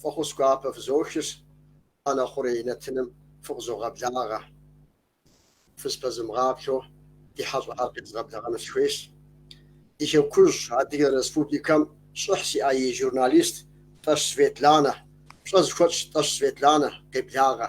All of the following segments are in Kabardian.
Фӏэхъус гуапэ фызохыр, ӏэнэ хъурей нэтыным фыкъызогъэблагъэ. Фызпэзымыгъаплъэу ди хьэщӏэхэр къезгъэблэгъэну сыхуейщ. Ди Хекужь Адыгэ Республикэм щӏыхь зиӏэ и журналист Тӏэщ Светланэ, пщӏэ зыхуэтщӏ Тӏэщ Светланэ, къеблагъэ.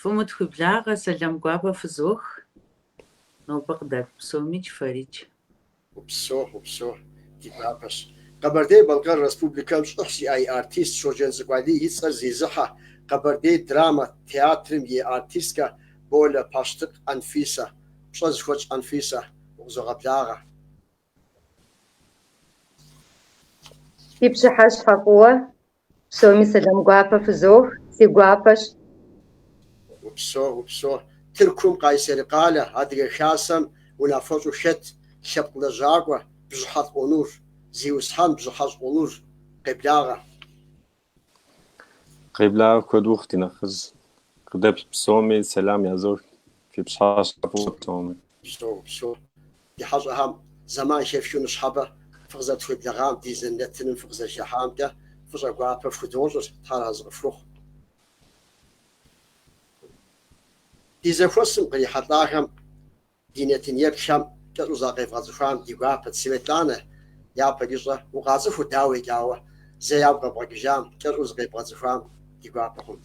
Фӏым утхуеблагъэ, сэлам гуапэ фызох, нобэ къыдэплъ псомикӏ, фэрикӏ. Упсо, упсо, ди гуапэщ. Къэбэрдей-Балъкъэр Республикэм щӏыхь зиӏэ и артист Щоджэнцӏыкӏу Алий и цӏэр зезыхьэ Къэбэрдей драмэ театрым и артисткэ Болэ Пащтыкъ Анфисэ. Пщӏэ зыхуэтщӏ Анфисэ, укъызогъэблагъэ. Фи пщыхьэщхьэ фӏыуэ Псоми сэлам гуапэ фызох, си гуапэщ. Упсо, упсо. Тыркум Къайсери къалэ, Адыгэ Хасэм унафэщӏу хэт лъэпкъ лэжьакӏуэ Бжьыхьэлӏ Онур. Зиусхьэн Бжьыхьэлӏ Онур. Къеблагъэ. Къеблагъэ куэд ухъу, ди нэхъыжь. Къыдэплъ псоми сэлам язох. Фи пщыхьэщхьэ фӏыуэ псоми. Упсо, упсо. Ди хьэщӏэхэм зэман хэфхыу ныщхьэбэ фыкъызэтхуеблэгъам, ди зэнэтыным фыкъызэхыхьамкӏэ фӏыщӏэ гуапэ фхудощӏыр, Тхьэр арэзы къыфхухъу. Ди зэхуэсым кърихьэлӏахэм, ди нэтын еплъхэм кӏэщӏу закъевгъэцӏыхуам ди гуапэт, Светланэ, япэ дищӏэ укъацӏыху дауикӏ, ауэ зэ ягу къэбгъэкӏыжам кӏэщӏу зыкъебгъэцӏыхуам ди гуапэ хъунт.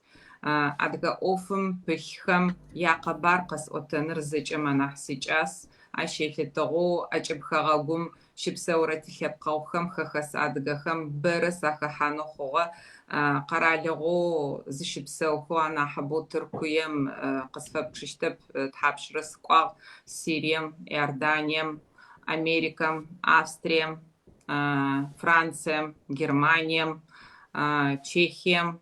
Адыгэ ӏофым пылъхэм я къэбар къэсӏотэныр зэкӏэм анахь сикӏас. Ащ елъытыгъэу ӏэкӏыб хэгъэгум щыпсэурэ тилъэпкъэгъухэм хэхэс адыгэхэм бэрэ сахэхьанэу хъугъэ. Къэралыгъоу зыщыпсэухэу анахьыбэу Тыркуем къысфэпчыщтэп, тхьапшрэ сыкӏуагъ Сирием, Иорданием, Америкэм, Австрием, Францием, Германием, Чехием,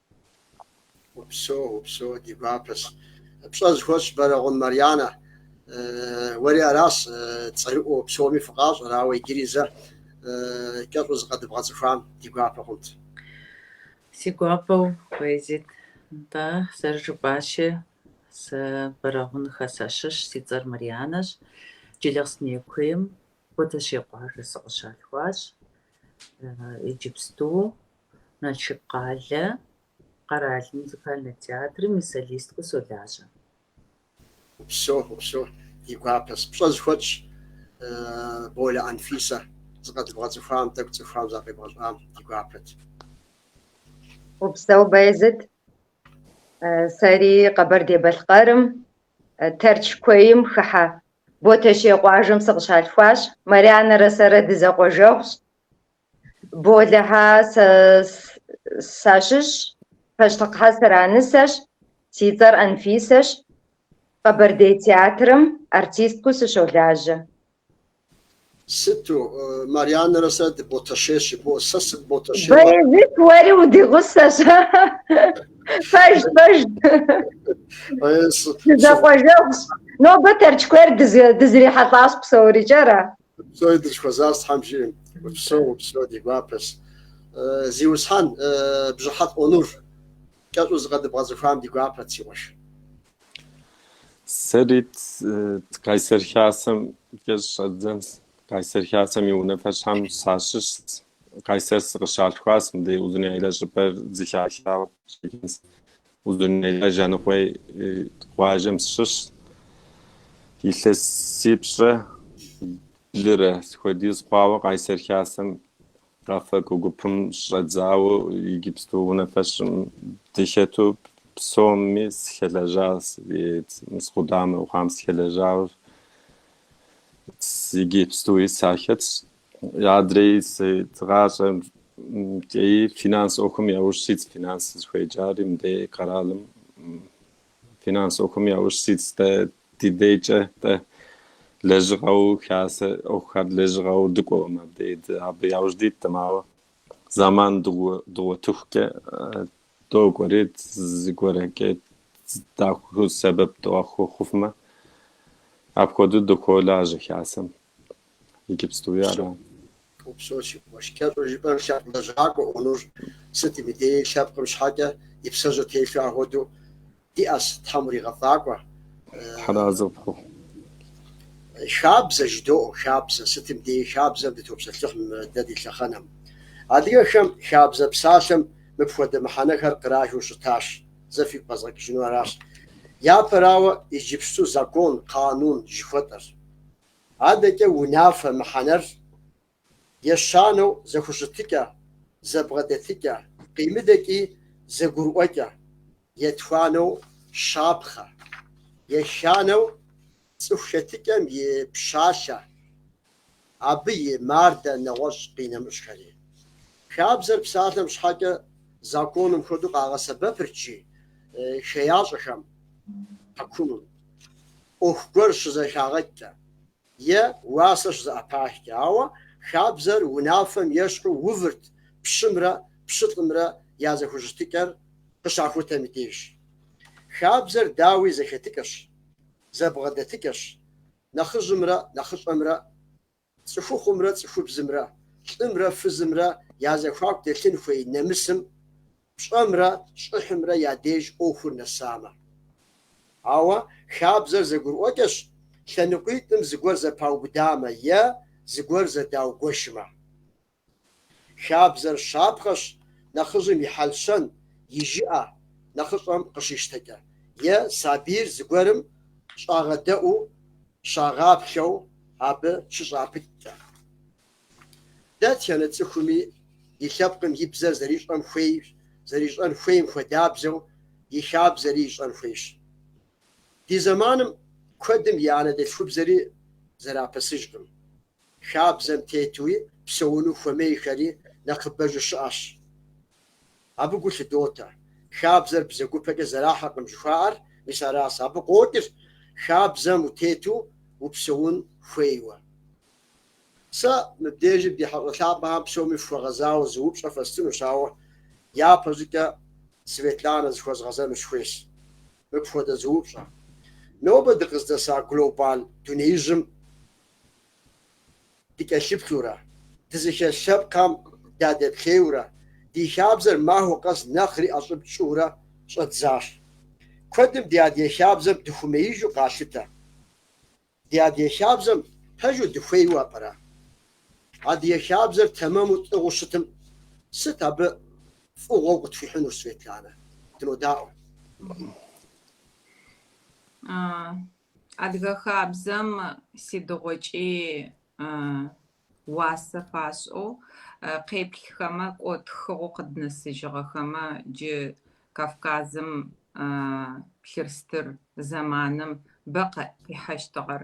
Упсэу, упсэу, ди гуапэщ. Пщӏэ зыхуэтщӏ Бэрэгъун Марьянэ. Уэри аращ цӏэрыӏуэу псоми фыкъащӏэр, ауэ иджыри зэ кӏэщӏу зыкъэдыбгъэцӏыхуам ди гуапэ хъунт. Си гуапэу, Баязит, нтӏэ, зэрыжыпӏащи, сэ Бэрэгъунхэ сащыщ, си цӏэр Марьянэщ. Джылахъстэней куейм Ботэщей къуажэ сыкъыщалъхуащ. Иджыпсту Налшык къалэ къэрал музыкальнэ театрым и солисткэу солажьэ. Упсэу, упсэу, ди гуапэщ. Пщӏэ зыхуэтщӏ Болэ Анфисэ, зыкъэдыбгъэцӏыхуам, тӏэкӏу цӏыхухэм закъебгъэщӏам ди гуапэт. Упсэу Баязыт, сэри Къэбэрдей-Балъкъэрым, Тэрч куейм хыхьэ Ботэщей къуажэм сыкъыщалъхуащ, Марянэрэ сэрэ дызэкъуэжэгъущ, Болэхэ сащыщщ, Пащтыкъхэ сыранысэщ, си цӏэр Анфисэщ, Къэбэрдей театрым артисткэу сыщолажьэ. Сыту, Марьянэрэ сэрэ дыботэщейщ, сэ сыботэщейщ. Баязит, уэри удигъусэщ. Пэжт, пэжт. Дызэкъуэжэгъущ. Нобэ Тэрч куейр дызэрихьэлӏащ псорикӏ, ара? Псори дыщыхуэзэнщ Тхьэм жиӏэм. Упсэу, упсэу, ди гуапэс. Зиусхьэн, Бжьыхьэлӏ Онур, кӏэщӏу зыкъыдэбгъэцӏыхуам ди гуапэт, си къуэш. Сэри Кайсэр Хасэмкӏэ щӏэздзэнщ. Кайсэр Хасэм и унафэщӏхэм сащыщщ. Кайсэр сыкъыщалъхуащ, мыбдеж Узуняйлэ щӏыпӏэр зылъалъауэ щӏэкӏынщ. Узуняйлэ Жаныкъуей къуажэм сыщыщ. Илъэсипщӏрэ блырэ хуэдиз хъуауэ Къайсэр Хасэм къафэкӏуэ гупым щӏэдзауэ иджыпсту унафэщӏым дыхэту псоми схэлэжьащ, мис къудамэу хъуам схэлэжьауэ иджыпстуи сахэтщ. Адрей ди гъащӏэкӏи финанс ӏуэхум яужь ситщ финанс сызыхуеджари мыдей къэралым финанс ӏуэхум яужь ситщ дэ ди дейкӏэ дэ лэжьыгъэу хасэ ӏуэхухэр лэжьыгъэу дыкӏуэкъым абдей абы яужь диткъым ауэ зэман дыгъуэтыхукӏэ докӏуэри зыгуэркӏэ даху сэбэп дахуэхъуфмэ апхуэдэу дохуолажьэ хасэм Иджыпстуи ара. Упсэу, си къуэш. Кӏэщӏу жыпӏэм лъэпкъ лэжьакӏуэ Онур. Сытым деи лъэпкъым щхьэкӏэ и псэжьыр телъу апхуэду диӏэс, Тхьэм уригъэфӏакӏуэ. Тхьэрэзы пхухъу. Хабзэ жыдоӏэ, хабзэ, сытым деи хабзэм дытопсэлъыхь мы дэ ди лъэхъэнэм. Адыгэхэм хабзэ псалъэм мыпхуэдэ мыхьэнэхэр кърахэу щытащ, зэ фигу къэзгъэкӏыжыну аращ. Япэрауэ, иджыпсту закон, къанун, жыхуэтӏэр. Адэкӏэ унафэ мыхьэнэр ещанэу зэхущытыкӏэ, зэбгъэдэтыкӏэ, къимыдэкӏи зэгурыӏуэкӏэ, етхуанэу щапхъэ, еханэу цӏыху хэтыкӏэм и пщалъэ, абы и мардэ нэгъуэщӏ къинэмыщӏхэри. Хабзэр псалъэм щхьэкӏэ законым хуэдэу къагъэсэбэпырт, жи, хеящӏэхэм, хьэкумым. ӏуэху гуэр щызэхагъэкӏкӏэ е уасэ щызэӏэпахкӏэ, ауэ хабзэр унафэм ещхьу увырт пщымрэ пщылӏымрэ я зэхущытыкӏэр къыщахутэм и деж. Хабзэр дауи зэхэтыкӏэщ, зэбгъэдэтыкӏэщ, нэхъыжьымрэ нэхъыщӏэмрэ Цӏыхухъумрэ цӏыхубзымрэ, лӏымрэ фызымрэ я зэхуаку дэлъын хуей нэмысым, пщӏэмрэ щӏыхьымрэ я деж ӏуэхур нэсамэ. Ауэ хабзэр зэгурыӏуэкӏэщ лъэныкъуитӏым зыгуэр зэпаубыдамэ е зыгуэр зэдаугуэшмэ. Хабзэр щапхъэщ нэхъыжьым и хьэл-щэн, и жыӏэ нэхъыщӏэм къыщищтэкӏэ, е сабийр зыгуэрым щӏагъэдэӏуу, щагъаплъэу абы щыщӏапыкӏкӏэ. Дэтхэнэ цӏыхуми и лъэпкъым и бзэр зэрищӏэн хуейщ, зэрищӏэн хуейм хуэдабзэу и хабзэри ищӏэн хуейщ. Ди зэманым куэдым и анэдэлъхубзэри зэрапэсыжкъым. Хабзэм тетуи псэуну хуэмейхэри нэхъыбэжу щыӏэщ. Абы гу лъыдотэ. Хабзэр бзэгупэкӏэ зэрахьэркъым жыхуаӏэр мис аращ. Абы къокӏыр хабзэм утету упсэун хуейуэ. Сэ мыбдежым ди хьэщӏэ лъапӏэхэм псоми фхуэгъэзауэ зы упщӏэ фэстынущ, ауэ япэ щӏыкӏэ Светланэ зыхуэзгъэзэну сыхуейщ мыпхуэдэ зы упщӏэ. Нобэ дыкъыздэса глобал дунеижьым Дыкӏэлъыплъурэ, дызыхэс лъэпкъхэм дадэплъейуэрэ, ди хабзэр махуэ къэс нэхъри ӏэщӏыб тщӏыурэ щӏэддзащ. Куэдым ди адыгэ хабзэм дыхуэмеижу къалъытэ. Ди адыгэ хабзэм пэжу дыхуейуэ пӏэрэ? Адыгэ хабзэр тэмэму тӏыгъыу щытым, сыт абы фӏыгъуэу къытхуихьынур, Светланэ? Дынодаӏуэ. Адыгэ хабзэм сыдигъокӏи уасэ фашӏэу, къеплъхэмэ, кӏо тхыгъэу къыднэсыжыгъэхэмэ, джы Кавказым плъырстыр зэманым бэ къихьэщтыгъэр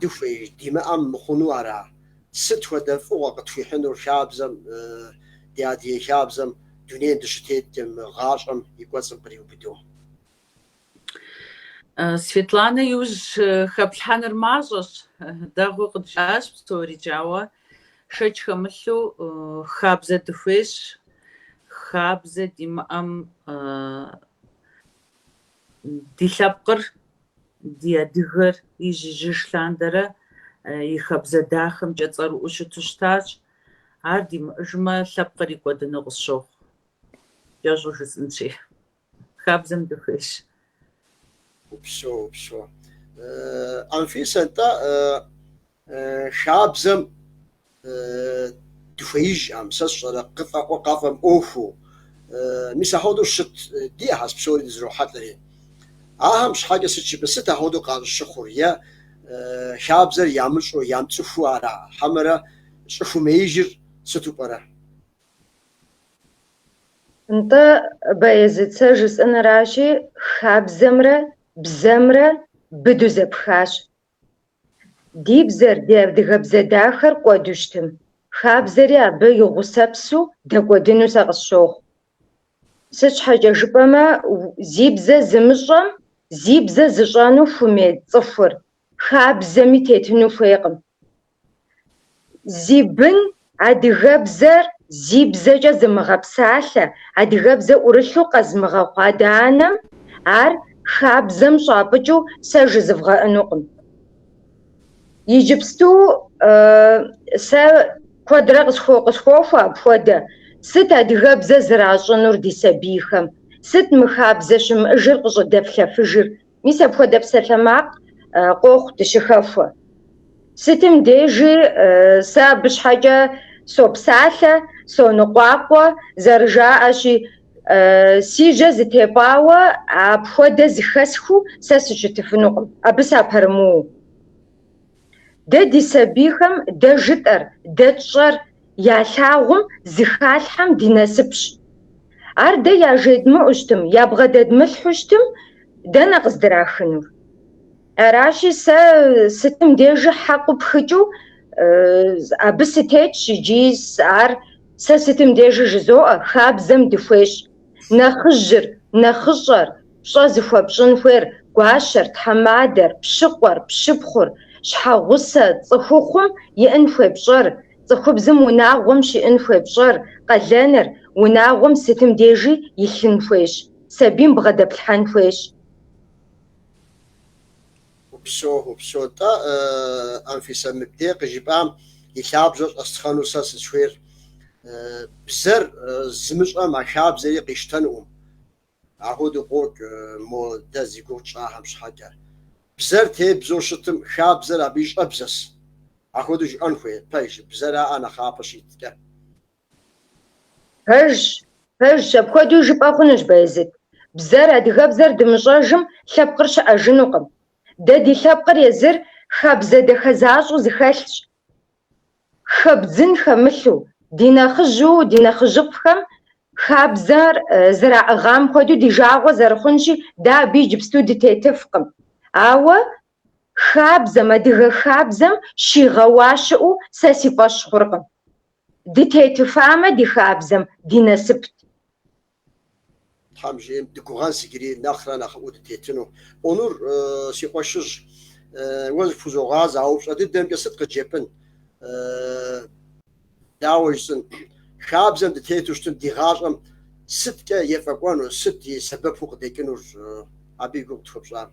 Дыхуеиж, димыӏэм мыхъуну ара? Сыт хуэдэ фӏыгъуэ къытхуихьынур хабзэм, ди адыгэ хабзэм, дунейм дыщытетым, гъащӏэм и кӏуэцӏым къриубыдэу? Светланэ иужь хэплъхьэныр мащӏэщ, дэгъуу къыджиӏащ псорикӏ, ауэ шэч хэмылъу хабзэ дыхуейщ, хабзэ димыӏэм Ди лъэпкъыр, ди адыгэр ижь-ижьыж лъандэрэ и хабзэ дахэмкӏэ цӏэрыӏуу щыту щытащ. Ар димыӏыжмэ, лъэпкъыри кӏуэдыну къысщохъу. Кӏэщӏу жысӏынщи, хабзэм дыхуейщ. Упсэу, упсэу. Анфисэ, атӏэ, Хабзэм дыхуеижӏэм, сэ сщӏэрэ, къыфӏэӏуэ къафӏэмыӏуэхуу. Мис ахуэдэу щыт, диӏэхэс псори дызэрохьэлӏэри. Ахэм щхьэкӏэ сыт щыпэ, сыт ахуэдэу къащӏыщыхъур, е хабзэр ямыщӏу, ямыцӏыхуу ара, хьэмэрэ щӏыхумеижыр сыту пӏэрэ? Нтӏэ, Баязыт, сэ жысӏэныращи, хабзэмрэ бзэмрэ быду зэпхащ. Ди бзэр, ди адыгэбзэ дахэр кӏуэду щытым, хабзэри абы и гъусэпсу дэкӏуэдыну сэ къысщохъу. Сыт щхьэкӏэ жыпӏэмэ, зи бзэ зымыщӏэм зи бзэ зыщӏэну хумей цӏыхур хабзэми тетыну хуейкъым. Зи бын адыгэбзэр зи бзэкӏэ зымыгъэпсалъэ, адыгэбзэ ӏурылъу къэзмыгъэхъу адэ-анэм ар хабзэм щӏапӏыкӏыу сэ жызэвгъэӏэнукъым. Иджыпсту сэ куэдрэ къысхуохуэ апхуэдэ, сыт адыгэбзэ зэращӏынур ди сабийхэм, сыт мы хабзэ щымыӏыжыр къыщӏыдэплъэфыжыр, Мис апхуэдэ псалъэмакъ къохъу дыщыхэхуэ. Сытым дежи сэ абы щхьэкӏэ сопсалъэ, соныкъуакъуэ, зэрыжаӏэщи, си жьэ зытепӏауэ апхуэдэ зыхэсхыу сэ сыщытыфынукъым, абы сапэрымыуэу. Дэ ди сабийхэм дэ жытӏэр, дэ тщӏэр ялъагъум зыхалъхьэм ди насыпщ. Ар дэ яжедмыӏу щытым, ябгъэдэдмылъхьу щытым, дэнэ къыздырахынур? Аращи, сэ сытым дежи хьэкъу пхыкӏыу абы сытетщ икӏи ар сэ сытым дежи жызоӏэ, хабзэм дыхуейщ, нэхъыжьыр, нэхъыщӏэр, Пщӏэ зыхуэпщӏын хуейр гуащэр, тхьэмадэр, пщыкъуэр, пщыпхъур, щхьэгъусэ, цӏыхухъум иӏын хуей пщӏэр, цӏыхубзым унагъуэм щиӏын хуей пщӏэр, къалэныр, унагъуэм сытым дежи илъын хуейщ, сабийм бгъэдэплъхьэн хуейщ. Упсо, упсо, тӏэ, Анфисэ, мыбдей къыжыпӏам и лъабжьэр щӏэстхъэну сэ сызхуейр бзэр зымыщӏэм а хабзэри къищтэнуӏэм, Ахуэдэу къокӏ мо дэ зи гугъу тщӏахэм щхьэкӏэ. Бзэр тебзэу щытым, хабзэр абы и щӏэбзэс. Ахуэдэу жыӏэн хуей, пэжщ, бзэраӏэ нэхъапэ щиткӏэ. Пэжщ, пэжщ, апхуэдэу жыпӏэ хъунущ, Баязыт. Бзэр, адыгэбзэр дымыщӏэжым, лъэпкъыр щыӏэжынукъым. Дэ ди лъэпкъыр езыр хабзэ дахэ защӏэу зыхэлъщ. Хэбдзын хэмылъу, ди нэхъыжьу, ди нэхъыжьыфӏхэм хабзэр зэраӏыгъам хуэдэу ди жагъуэ зэрыхъунщи, дэ абы иджыпсту дытетыфкъым. Ауэ хабзэм, адыгэ хабзэм щигъэуа щыӏэу сэ си фӏэщ хъуркъым. Дытетыфамэ ди хабзэм, ди насыпт. Тхьэм жиӏэм дыгугъэнщ иджыри нэхърэ нэхъыӏуэу дытетыну. Онур, си къуэшыжь, уэ зыпхузогъазэ а упщӏэ дыдэмкӏэ сыт къыджепӏын? Дауэ жысӏэн? Хабзэм дытету щытым ди гъащӏэм сыткӏэ ефӏэкӏуэну, сыт и сэбэпу къыдекӏынур? Абы и гугъу тхуэпщӏам.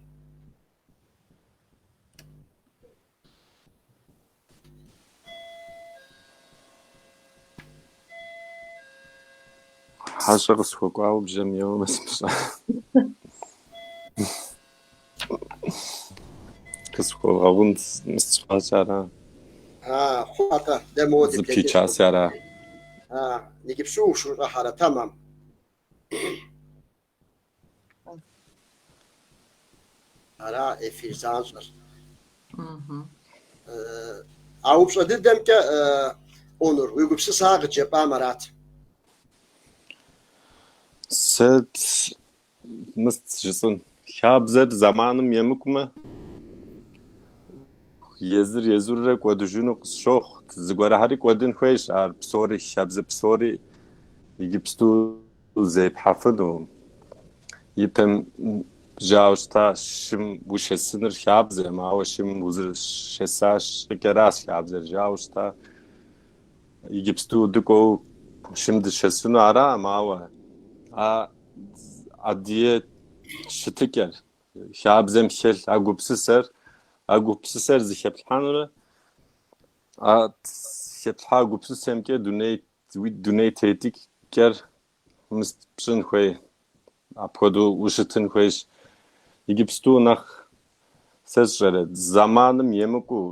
Хьэщӏэ къысхуэкӏуауэ бжэм еуэмэ сымыщӏа. Къысхуэвгъэгъун сщӏащ ара? А, хъуатэ, дэ мыуэ Зыпичаси ара? А, иджыпсту ущыущӏэхьэрэ тэмэм? Ара эфир занщӏэр. А упщӏэ дыдэмкӏэ, Онур, уи гупсысэхэр къыджепӏам арат. Сэ мыст жыцӏын. Хабзэр зэманым емыкӏумэ, езыр езырурэ кӏуэдыжыну къысщохъу. Зыгуэрхэри кӏуэдын хуейщ ар псори, хабзэ псори иджыпсту. Зепхьэфыну ипэм жаӏэу щыта шым ушэсыныр хабзэӏым, ауэ шым узэрышэса щӏыкӏэращ хабзэр жаӏэу щыта. Иджыпсту дыкӏуэу шым дышэсыну араӏым, ауэ а адыгэ щытыкӏэр хабзэм хэлъ а гупсысэр, а гупсысэр зыхэплъхьэнурэ, а хэплъхьа гупсысэмкӏэ дуней Уи дуней тетыкӏэр мыст пщӏын хуей, апхуэдэу ущытын хуейщ. Иджыпсту нэхъ сэ сщӏэрэ, зэманым емыкӏуу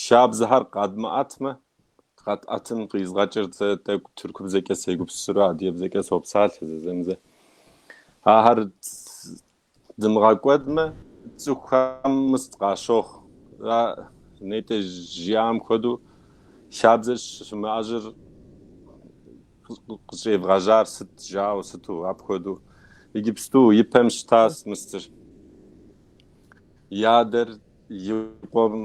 хабзэхэр къэдмыӏэтмэ, къэтӏэтым къизгъэкӏырт. Сэ тӏэкӏу тыркубзэкӏэ сегупсысыру адыгэбзэкӏэ сопсалъэ зэзэмызэ. Ахэр Дымыгъэкӏуэдмэ, цӏыхухэм мыст къащохъу. Ара нетӏэ жиӏам хуэдэу хабзэр щымыӏэжыр къыщӏевгъэжьар сыт жаӏэу, сыту апхуэдэу. Иджыпсту и пэм щытащ мыстыр. И адэр и къуэм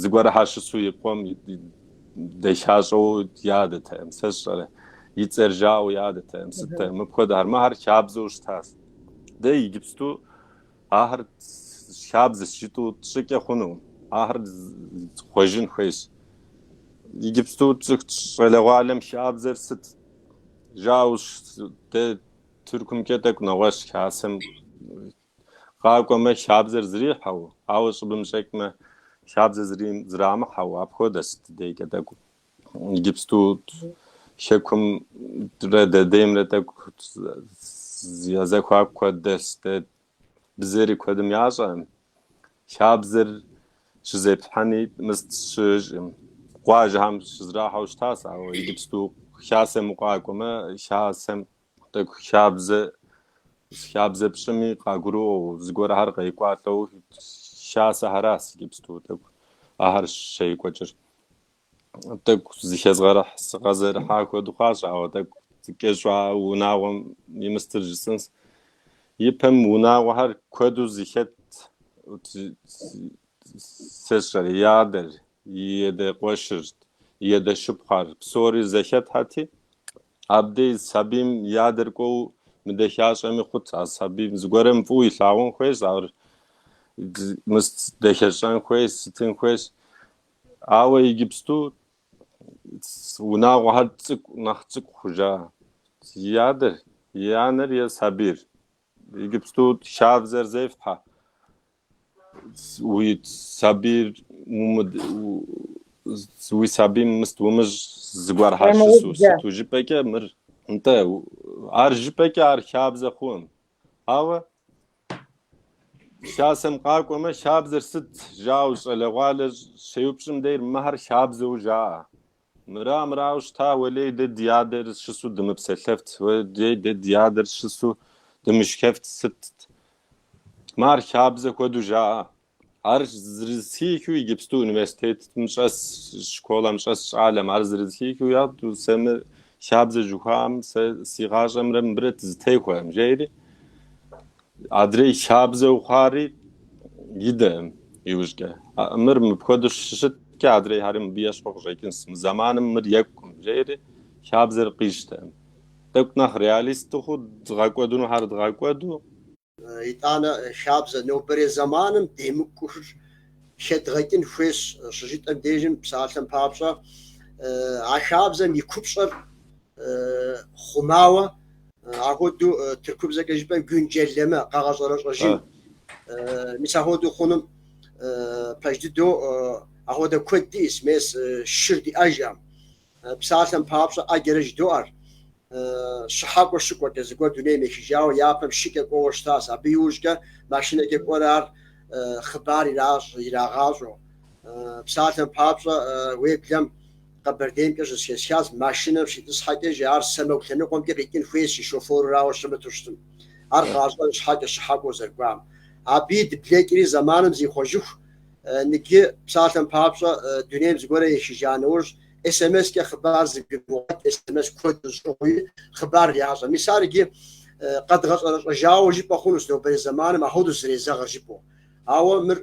зыгуэрхьэр щысу и къуэм дэхащӏэу ядэтэкъым, сэ сщӏэрэ, и цӏэр жаӏэу ядэтэкъым, сыттэкъым, мыпхуэдэхэр, мыхэр хабзэу щытащ. Дэ иджыпсту ахэр хабзэщ жытӏу тщӏыкӏэ хъунукъым, ахэр хъуэжын хуейщ. Иджыпсту щӏалэгъуалэм хабзэр сыт жаӏэу, дэ Тыркумкӏэ тӏэкӏу нэгъуэщӏщ, хасэм Къакӏуэмэ, хабзэр зрихьэу, ауэ щӏыбым щӏекӏмэ, хабзэр зрим зрамыхьэу, апхуэдэщ ди дейкӏэ тӏэкӏу. Иджыпсту Хэкумрэ дэ деймрэ тӏэкӏу я зэхуаку куэд дыдэщ, дэ бзэри куэдым ящӏэкъым. Хабзэр щызепхьэни мыст щыӏэкъым. Къуажэхэм щызрахьэу щытащ, ауэ иджыпсту Хасэм укъакӏуэмэ, Хасэм Тӏэкӏу хабзэ хабзэ пщӏыми къагурыӏуэу, зыгуэрхэр къекӏуалӏэу хасэхьэращ иджыпсту, тӏэкӏу ахэр щекӏуэкӏыр. Тӏэкӏу зыхэзгъэрыхь, зыхэзэрыхьа хуэдэу хъуащ, ауэ тӏэкӏу кӏэщӏу а унагъуэм и мыстыр жысӏэнс. Ипэм унагъуэхэр куэду зыхэтт, сэ сщӏэрэ, и адэр, и адэ къуэшыр, и адэ шыпхъур, псори зэхэтхьэти, Абдей сабийм и адэр кӏуэу мыдэхащӏэми хъут, а сабийм зыгуэрым фӏыуэ илъагъун хуейщ, ауэ мыст дэхэщӏэн хуейщ, сытын хуейщ. Ауэ иджыпсту унагъуэхэр цӏыкӏу, нэхъ цӏыкӏу хъужа и адэр, и анэр я сабийр. Иджыпсту хабзэр зефхьэ. Уи сабийр уи сабийм мыст умыщӏ зыгуэрхьэ щысу сыту жыпӏэкӏэ мыр нтӏэ ар жыпӏэкӏэ ар хабзэ хъунукъым. Ауэ хасэм къакӏуэмэ хабзэр сыт жаӏэу щӏалэгъуалэ щеупщӏым дейр мыхэр хабзэу жаӏэ. Мыра, мырауэ щыта, уэлей дэ ди адэр щысу дымыпсэлъэфт, уэлей дэ ди адэр щысу дымышхэфт сытт. Мэ ар хабзэ хуэдэу жаӏэ. Ар зэрызэхихыу иджыпсту университетым щӏэс, школэм щӏэс щӏалэм, ар зэрызэхихыу яӏэт, сэ мы хабзэ жыхуаӏэм, сэ си гъащӏэмрэ мыбырэ дызэтехуэкъым, жери. Адрей хабзэу хъуари идэкъым иужькӏэ. Мыр мыпхуэдэу щыщыткӏэ, адрейхьэри мыбы ещхьу къыщӏэкӏынщ. Мы зэманым мыр екӏукъым, жери хабзэр къищтэкъым. Тӏэкӏу нэхъ реалист дыхъуу дгъэкӏуэдынухьэр дгъэкӏуэду. Итӏанэ хабзэ нобэрей зэманым демыкӏухэр хэдгъэкӏын хуейщ щыжытӏэм дежым, псалъэм папщӏэ, а хабзэм и купщӏэр хъумауэ, ахуэдэу тыркубзэкӏэ жыпӏэм гюнджэлэмэ, къэгъэщӏэрэщӏэжын. Мис ахуэдэу хъунум пэж дыдэу ахуэдэ куэд диӏэс, мес шыр диӏэжкъым. Псалъэм папщӏэ ӏэджэрэ жыдоӏэр, щыхьэкӏуэ щыкӏуэкӏэ, зыгуэр дунейм ехыжауэ япэм шыкӏэ кӏуэуэ щытащ, абы иужькӏэ машинэкӏэ кӏуэрэ ар хъыбар иращӏ, ирагъащӏэу. Псалъэм папщӏэ, уеблэм. Къэбэрдеймкӏэ щызэхэсхащ, машинэм щитӏысхьэкӏэ жи, ар сэмэгу лъэныкъуэмкӏэ къикӏын хуейщ и шоферырауэ щымыту щытым, ар къащӏэн щхьэкӏэ щыхьэкӏуэу зэрыкӏуам. Абыи дыблэкӏри зэманым зихъуэжыху, ныджы, псалъэм папщӏэ, дунейм зыгуэрэ ехыжа нэужь, смс-кӏэ хъыбар зыгурыгъуэт смс куэд щӏыгъуи, хъыбар ящӏэ. Мис ар иджы къэдгъэщӏэрэщӏэжауэ жыпӏэ хъунущ, нобэрей зэманым ахуэдэущ зэрезэгъыр жыпӏэу. Ауэ мыр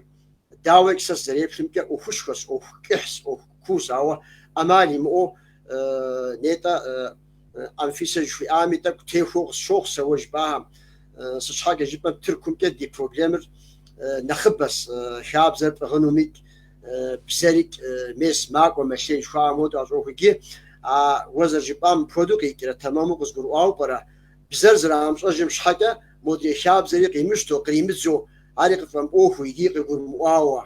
Дауикӏ, сэ сызэреплъымкӏэ, ӏуэхушхуэщ, ӏуэху кӏыхьщ, ӏуэху куущ, ауэ ӏэмал имыӏэу, нетӏэ, Анфисэ жыхуиӏами, тӏэкӏу техуэу къысщохъу сэ уэ жыпӏахэм. Сыт щхьэкӏэ жыпӏэм Тыркумкӏэ ди проблемыр нэхъыбэщ, хабзэр пӏыгъынумикӏ, бзэрикӏ, мес, макӏуэ, мэлъей жыхуаӏэм хуэдэу ащӏохуэкӏи, а уэ зэрыжыпӏам мыпхуэдэу къикӏрэ тэмэму къызгурыӏуауэ пӏэрэ? Бзэр зэрагъэмыщӏэжым щхьэкӏэ модрей хабзэри къимыщтэу, къримыдзу, ари къыфӏэмыӏуэхуу икӏи къигурымыӏуауэ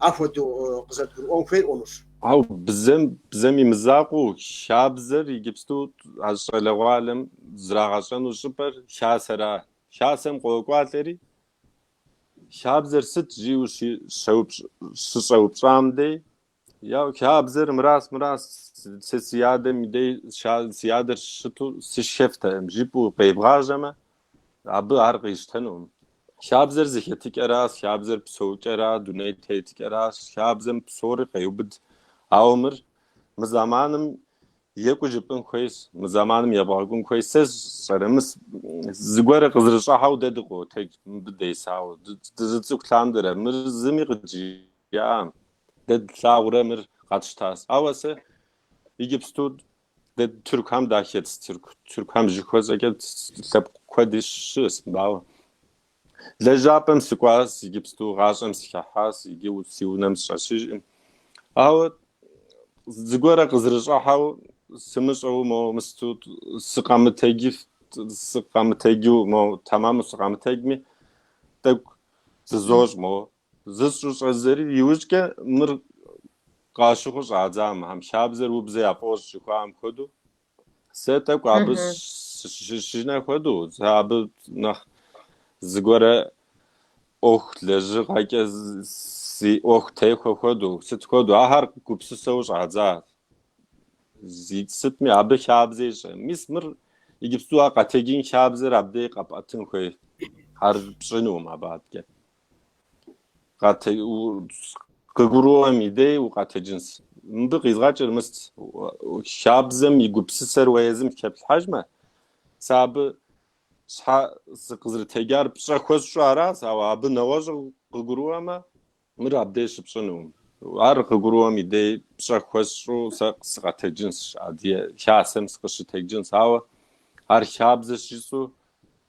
ахуэдэу къызэрыдгурыӏуэн хуейр ӏуэхущ. Ауэ бзэм, бзэм и мызакъуэу хабзэр иджыпсту а щӏалэгъуалэм зрагъэщӏэну щӏыпӏэр хасэра. Хасэм къокӏуалӏэри, хабзэр сыт жиӏэу щыщӏэупщӏам дей, Яу хабзэр мырас мырас сэ си адэм и дей ща- си адэр щыту сышхэфтэкъым жыпӏэу къебгъажьэмэ, абы ар къищтэнукъым. Хабзэр зэхэтыкӏэращ, хабзэр псэукӏэра, дуней тетыкӏэращ, хабзэм псори къеубыд. Ауэ мыр мы зэманым екӏуу жыпӏын хуейщ, мы зэманым ебгъэкӏун хуейщ. Сэ сщӏэрэ, мис зыгуэрэ къызэрыщӏыхьэу дэ дыкъотэдж абы десауэ, ды- дыщыцӏыкӏу лъандэрэ, мыр зыми къыджи- ӏам. Дэ длъагъурэ мыр къэтщтас. Ауэ сэ Иджыпсту дэ тыркухэм дахэтщ, тыркухэм жыхуэсӏэкӏэ лъэпкъ куэди щыӏэщ мыбы, ауэ Лэжьапӏэм сыкӏуащ, Иджыпсту гъащӏэм сыхыхьащ, иджы си унэм сыщӏэсыжкъым. Ауэ зыгуэрэ къызэрыщӏыхьэу сымыщӏэу мо мысту сыкъэмытэджи сыкъэмытэджу мо тэмэму сыкъэмытэджми тӏэкӏу зызощӏ мо Зысщӏу щӏэздзэри иужькӏэ мыр къащыхъу щӏадзам, хьэм хабзэр убзэ яфӏощӏ жыхуаӏэм хуэдэу, сэ тӏэкӏу абы сыщышынэ хуэдэу, сэ абы нэхъ зыгуэрэ ӏуэху лэжьыгъэкӏэ си ӏуэху техуэ хуэдэу, сыт хуэдэу, ахэр гупсысэу щӏадзаси, сытми абы хабзэ ищӏэ. Мис мыр иджыпсту ар къэтэджын хабзэр абдей къэпӏэтын хуей, ар пщӏынукъым абы адэкӏэ. къатэ къыгурыӏуэм и дей укъэтэджынс. Мыбы къизгъэкӏыр мыст, хабзэм и гупсысэр уэ езым теплъхьэжмэ, сэ абы щхьэ сыкъызэрытэджар пщӏэ хуэсщӏу аращ, ауэ абы нэгъуэщӏу къыгурыӏуэмэ, мыр абдей щыпщӏынукъым. Ар къыгурыӏуэм и дей пщӏэ хуэсщӏу сэ сыкъэтэджынс, адыгэ хасэм сыкъыщытэджынс, ауэ ар хабзэщ жысӏэу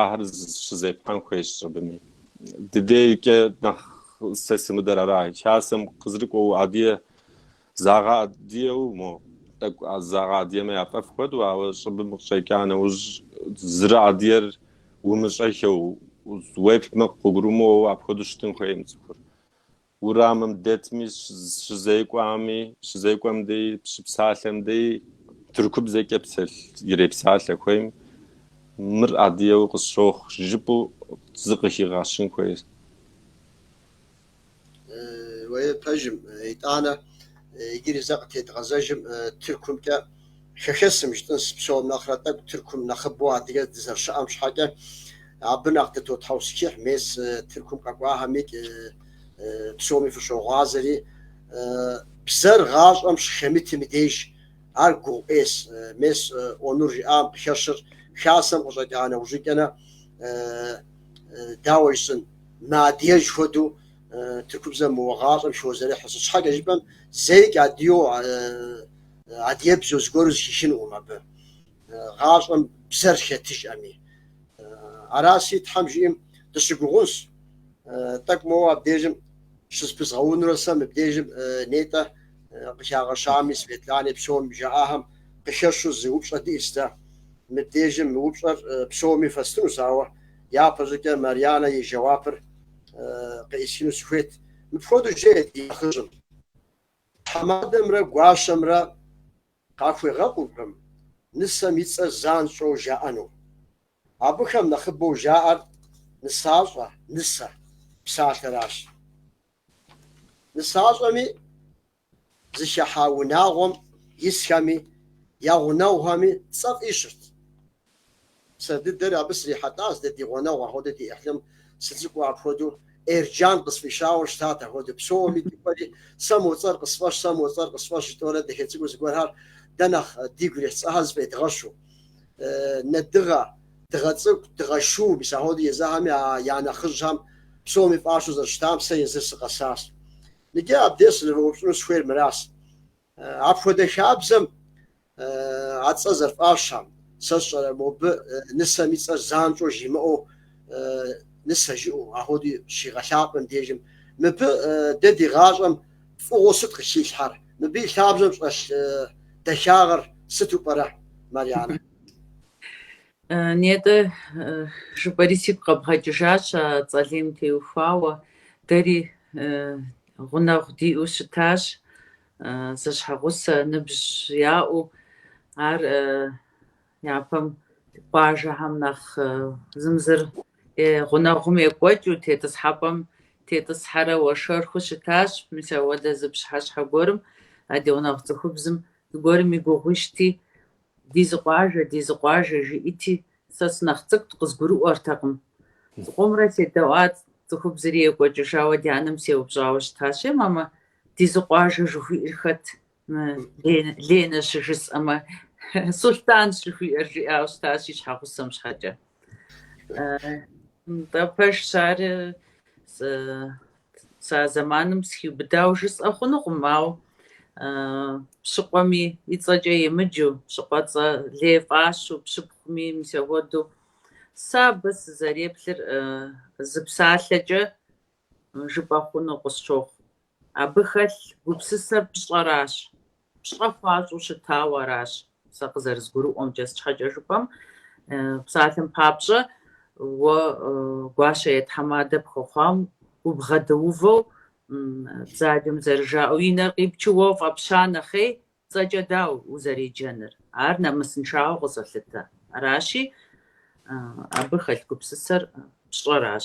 ахэр щызепхьэн хуейщ щӏыбыми. Ди дейкӏэ нэхъ сэ сымыдэр ара, хасэм къызэрыкӏуэу Адие загъэадиеу, мо тӏэкӏу загъэадиемэ яфӏэфӏ хуэдэу, ауэ щӏыбым къыщӏэкӏа нэужь зэрыадиер умыщӏэхыу, уеплъмэ къыбгурымыӏуэу апхуэдэу щытын хуейкъым цӏыхур. урамым дэтми, щызекӏуами, щызекӏуэм дей, щыпсалъэм дей тыркубзэкӏэ псэлъ ирепсалъэ хуейм мыр адыеу къысщохъу жыпӏэу зыкъыхигъэщын хуейщ. Уей, пэжым, итӏанэ иджыри зэ къытедгъэзэжым тыркумкӏэ. хэхэсым жытӏынс псом нэхърэ тӏэкӏу Тыркум нэхъыбэу адыгэ дызэрыщыӏэм щхьэкӏэ абы нэхъ дытотхьэусхыхь мес Тыркум къэкӏуахэми псоми фыщогъуазэри бзэр гъащӏэм щыхэмытым и деж ар гугъу ӏейс мес Онур жиӏам къыхэщыр хасэм къыщӏэкӏа нэужьыкӏэнэ дауэ жысӏэн мыадыгэж хуэдэу Тыркубзэм моуэ гъащӏэм хозэрыхьыр сыт щхьэкӏэ жыпӏэм зэикӏ адие Адыгэбзэу зыгуэру зыхихынукъым абы, гъащӏэм бзэр хэтыжӏэми. Араси, Тхьэм жиӏэм, дыщыгугъунщ. Тӏэкӏу моуэ абдежым щызэпызгъэунурэ сэ мыбдежым нетӏэ къыхагъэщами, Светлани псоми жаӏахэм къыхэщу зы упщӏэ диӏэщ дэ. Мыбдежым мы упщӏэр псоми фэстынущ, ауэ япэщӏыкӏэ Марьянэ и жэуапыр къеӏысхыну сыхуейт. Мыпхуэдэу жеӏэ ди нэхъыжьым. Тхьэмадэмрэ гуащэмрэ къахуегъэкъуркъым нысэм и цӏэр занщӏэу жаӏэну. Абыхэм нэхъыбэу жаӏэр нысащӏэ, нысэ, псалъэращ. Нысащӏэми, зыхыхьа унагъуэм исхэми, я гъунэгъухэми цӏэ фӏищырт. Сэ дыдэр абы срихьэлӏащ, дэ ди гъунэгъу ахуэдэу ди ӏыхьлым сыцӏыкӏуу апхуэдэу Эрджан къысфӏищауэ щытат, ахуэдэу псоми дыкӏуэри сэ мо цӏэр къысфӏэщ, сэ мо цӏэр къысфӏэщ жытӏэурэ дахэ цӏыкӏуу зыгуэрхэр дэ нэхъ дигу ирихь цӏэхэр зыфӏедгъэщу. Нэдыгъэ, дыгъэ цӏыкӏу, дыгъэ шу, мис ахуэдэу езыхэми а я нэхъыжьхэм псоми фӏащэу зэрыщытам сэ езыр сыкъэсащ. Икӏи абдеж сызэрыуэупщӏыну схуейр мыращ, Апхуэдэ хабзэм а цӏэ зэрыфӏащам, сэ сщӏэрэ, мобы нысэм и цӏэр занщӏэу жимыӏэу нысэ жыӏэу, ахуэдэу щигъэлъапӏэм дежым, мыбы дэ ди гъащӏэм фӏыгъуэу сыт къыхилъхьэр? Мыбы и лъабжьэм щӏэлъ дахагъэр сыту пӏэрэ, Марьянэ? Нетӏэ, жыпӏэри сигу къэбгъэкӏыжащ а цӏэ лейм теухуауэ, дэри гъунэгъу диӏэу щытащ, зэщхьэгъусэ ныбжь яӏэу, ар япэм къуажэхэм нэхъ зым зыр гъунэгъум екӏуэкӏыу тетӏысхьэпӏэм тетӏысхьэрэ уэршэрхэу щытащ. Мис ауэдэ зы пщыхьэщхьэ гуэрым а ди гъунэгъу цӏыхубзым зыгуэрым и гугъу ищӏти, Ди зы къуажэ, ди зы къуажэ, жиӏити, сэ сынэхъ цӏыкӏут, къызгурыӏуэртэкъым. Зыкъомрэ седэӏуат, цӏыхубзри екӏуэкӏыжауэ ди анэм сеупщӏауэ щытащ, Е, мамэ, ди зы къуажэ жыхуиӏэр хэт? Мы Ленэ щыжысӏэмэ, Сулътӏанщ жыхуиӏэр, жиӏауэ щытащ и щхьэгъусэм щхьэкӏэ. Нтӏэ, пэжщ ар, Сэ а зэманым схиубыдауэ жысӏэ хъунукъым, ауэ пщыкъуэми и цӏэкӏэ емыджу, пщыкъуэцӏэ лей фӏащу, пщыпхъуми мис ахуэдэу, сэ абы сызэреплъыр зы псалъэкӏэ жыпӏэ хъуну къысщохъу. Абы хэлъ гупсысэр пщӏэращ. Пщӏэ хуащӏу щытауэ аращ, сэ къызэрызгурыӏуэмкӏэ, щхьэкӏэ жыпӏэм, псалъэм папщӏэ, уэ гуащэ е тхьэмадэ пхуэхъуам убгъэдэувэу, бзаджэм зэрыжаӏэу, и нэр къипчу уэ фӏэпща нэхъей, цӏэкӏэ дауэ узэреджэныр? Ар нэмысыншагъэу къызолъытэ. Аращи, абы хэлъ гупсысэр пщӏэращ.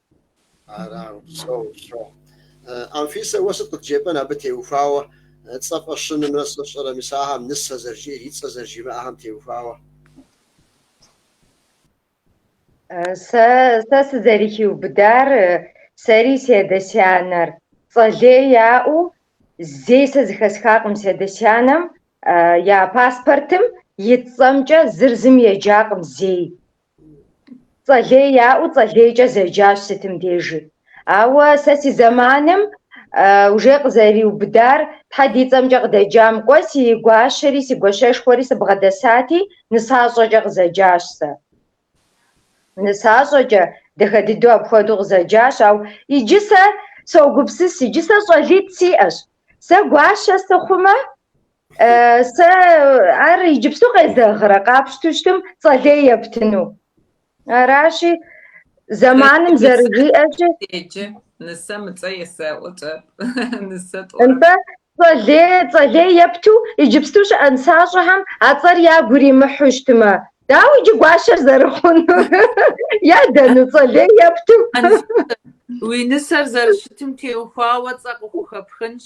Арагъ псэу щохъу. Анфисэ, уэ сыт къыдджепӏэн абы теухуауэ цӏэ фӏэщынымрэ сщӏэрэ, мис ахэм нысэ зэрыжиӏэр и цӏэ зэрыжимыӏэхэм теухуауэ? Сэ, сэ сызэрыхиубыдар, сэри си адэ-сянэр цӏэ лей яӏэу зей сэ зэхэсхакъым си адэ-сянэм я паспортым ит цӏэмкӏэ зыр зым еджакъым зей. Цӏэлей яӏэу цӏэлейкӏэ зэджащ сытым дежи. Ауэ сэ си зэманым уже къызэриубыдар Тхьэ ди цӏэмкӏэ къыдэджам кӏуэ, си гуащэри си гуащэшхуэри сыбгъэдэсати, нысащӏэкӏэ къызэджащ сэ. Нысащӏэкӏэ, дахэ дыдэу апхуэдэу къызэджащ, ауэ иджы сэ согупсыс, иджы сэ щӏалитӏ сиӏэщ. Сэ гуащэ сыхъумэ, Сэ ар иджыпсту къезэгърэ къапщту щытым цӏэлей ептыну. Аращи, зэманым зэрыжиӏэщи. Деджэ, нысэм и цӏэ есэӏуэкӏэ, нысэ тӏуэ. Нтӏэ, цӏэлей, цӏэлей епту иджыпсту щыӏэ нысащӏэхэм а цӏэр ягу иримыхьу щытымэ, дауэ иджы гуащэр зэрыхъунур? Ядэну цӏэлей епту? Уи нысэр зэрыщытым теухуауэ цӏэ къыхухэпхынщ,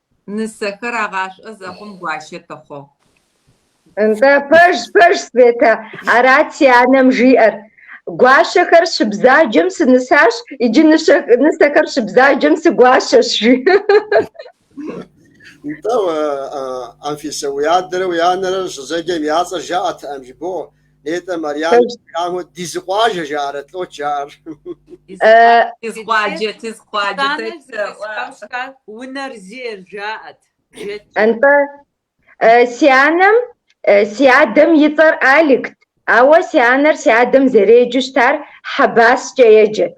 Нысэхэр агъашӏо зэхъум гуащэ тыхъугъ. Нтӏэ, пэж, пэж, Светэ, арат си анэм жиӏэр. Гуащэхэр щыбзаджэм сынысащ, иджы нысэхэр щыбзаджэм сыгуащэщ, жи. Нтӏэ, Анфисэ, уи адэрэ уи анэрэ щызэджэм я цӏэр жаӏэтэкъым, жыбоӏэ. Етӏэ, Марьянэ, хьэмэ ди зы къуажэ жаӏэрэт, лӏо жаӏэр. Ди зы къуаджэ, ди зы къуаджэ. Унэр зейр жаӏэт. Антӏэ, си анэм, си адэм и цӏэр Аликт, ауэ си анэр си адэм зэреджэу щытар Хьэбаскӏэ еджэт.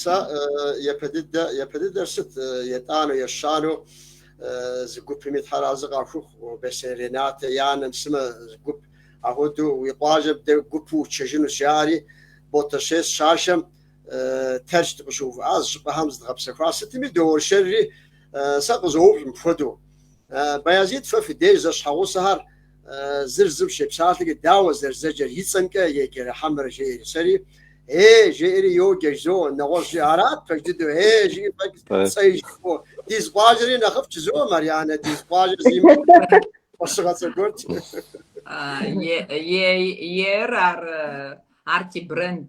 Сэ япэ дыдэ, япэ дыдэр сыт, етӏанэу, ещанэу зы гупыми Тхьэр арэзы къахухъу, Бесей Ренатэ и анэм сымэ зы гуп, ахуэдэу уи къуажэм дэ гупу утшэжынущ, жаӏэри, Ботэщей сыщашэм Тэрч дыкъыщыувыӏа зы щӏыпӏэхэм зыдгъэпсэхуа, сытми доуэршэрри, сэ къызоупщӏ мыпхуэдэу. Баязид, фэ фи деж зэщхьэгъусэхэр Зыр зым щепсалъэкӏэ, Дауэ зэрызэджэр и цӏэмкӏэ, еджэрэ хьэмэрэ? жеӏэри сэри, Е! жеӏэри йоджэ жызоӏэ, нэгъуэщӏ жи арат пэж дыдэу, Е! жиӏэ фӏэкӏ цӏэи жиӏэу, ди зы къуажэри нэхъыфӏщ жызоӏэ, Марьянэ, ди зы къуажэр зимыӏэу фӏэщыгъэ цӏэ гуэрт. Е, е, ейр ар, ар ти бренд.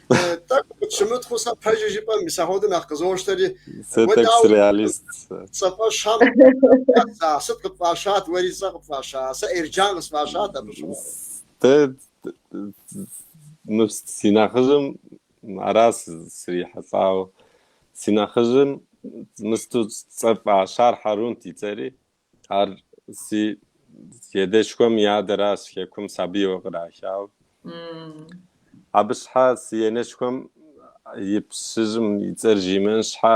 Тӏэкӏу къытщымытхъу сэ пэжи жыпӏэ мис ахуэдэу нэхъ къызощтэри. Сэ тӏэкӏу среалист. Цӏэфӏэщам сыт къыпфӏащат, уэри цӏэ къыпфӏаща, сэ Эрджан къысфӏащат абы щыгъуэ. Дэ мы си нэхъыжьым аращ срихьэлӏауэ. Си нэхъыжьым мысту цӏэ фӏащар Хьэрунт и цӏэри. Ар си едэшхуэм и адэращ, хекум сабийуэ кърахауэ. Абы щхьэ си енэшхуэм и пщыжьым и цӏэр жимыӏэн щхьэ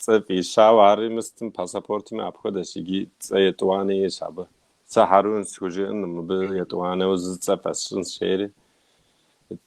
цӏэ фӏищауэ, ари мыстым пассапортми апхуэдэщ, иджи цӏэ етӏуанэ иӏэщ абы. Сэ Хьэрун схужыӏэнкъым, мыбы етӏуанэу зы цӏэ фӏэсщынщ жери.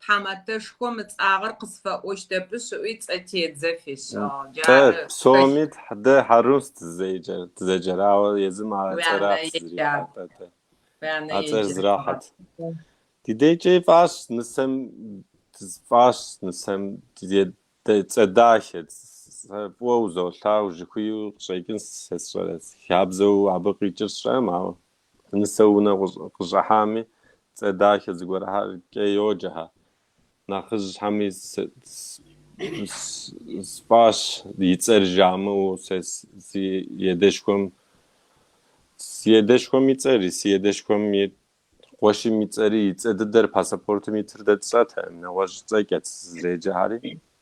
Тхьэматэшхуэм ыцӏагъэр къысфэӏощтэпышъ ыӏуи цӏэтедзэ фишӏыгъ. Дэ Джары псоми тхь- дэ Хьэрун сдызеджэр, дызеджэрауэ, езым а Уи цӏэр анэ ахъ еджа. зрихьэт атӏэ. уи анэ А цӏэр еджа. зрахьэт. Ди декӏэ фӏащ нысэм, фӏащ нысэм е- дэ- цӏэ дахэ, сэ фӏыуэ узолъагъу жыхуиӏэу къыщӏекӏын сэ сщӏэрэ, си хабзэу абы къикӏыр сщӏэрэм, ауэ Нысэ унэ къыщӏыхьами, цӏэ дахэ зыгуэрыхьэркӏэ йоджэхьэ. Нэхъыжьхэми фӏащ и цӏэр жамыӏэу сэ си едэшхуэм. Си едэшхуэм и цӏэри, си едэшхуэм и къуэшым и цӏэри, и цӏэ дыдэр пассапортым итыр дэ тщӏэтэкъым, нэгъуэщӏ цӏэкӏэт зеджэхьэри.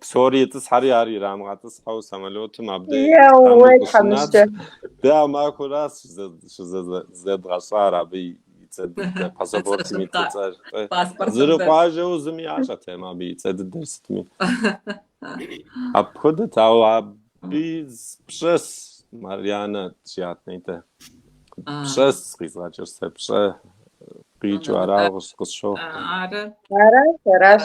псори итӏысхьэри ар ирамыгъэтӏысхьэу самолетым абдей къамыгущынат. Дэ а махуэращ щызэдгъэщӏар абы и цӏэ дыдэ, пассапортым и цӏэр. Зэрыкъуажэу зыми ящӏэтэм абы и цӏэ дыдэр сытми. Апхуэдэт, ауэ абы пщӏэс Марьянэ жиӏат нетӏэ. Пщӏэс къизгъэкӏыр сэ, пщӏэ къикӏыу арауэ къысщохъу. Аращ, аращ.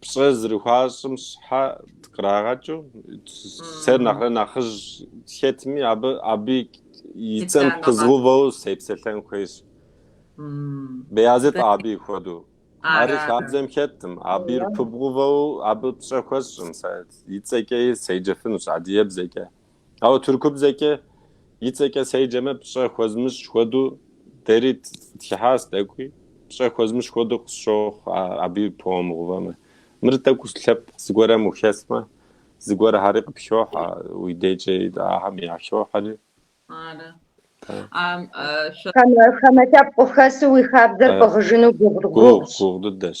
Пщӏэ зэрыхуащӏым щхьэ кърагъэкӏыу, сэр нэхърэ нэхъыжь хэтми, абы аби и цӏэм пызгъувэу сепсэлъэн хуейщ. Беязыт аби хуэдэу. Ари хабзэм хэттым, абир пыбгъувэу абы пщӏэ хуэсщӏым, сэ и цӏэкӏи седжэфынущ, адыебзэкӏэ. Ауэ тыркубзэкӏэ и цӏэкӏэ седжэмэ, пщӏэ хуэзмыщӏ хуэду дэри тхыхьащ тӏэкӏуи, пщӏэ хуэзмыщӏ хуэду къысщохъу аби пыумыгъувэмэ. Мыр тӏэкӏу лъэпкъ зыгуэрым ухэсмэ, зыгуэрыхьэри къыпхохьэ, уи дежкӏи ахьэм яхохьэри. Ары. Хамэ лъэпкъ ухэсу уи хабзэр пӏыгъыжыну гугъу? Гугъу дыдэщ.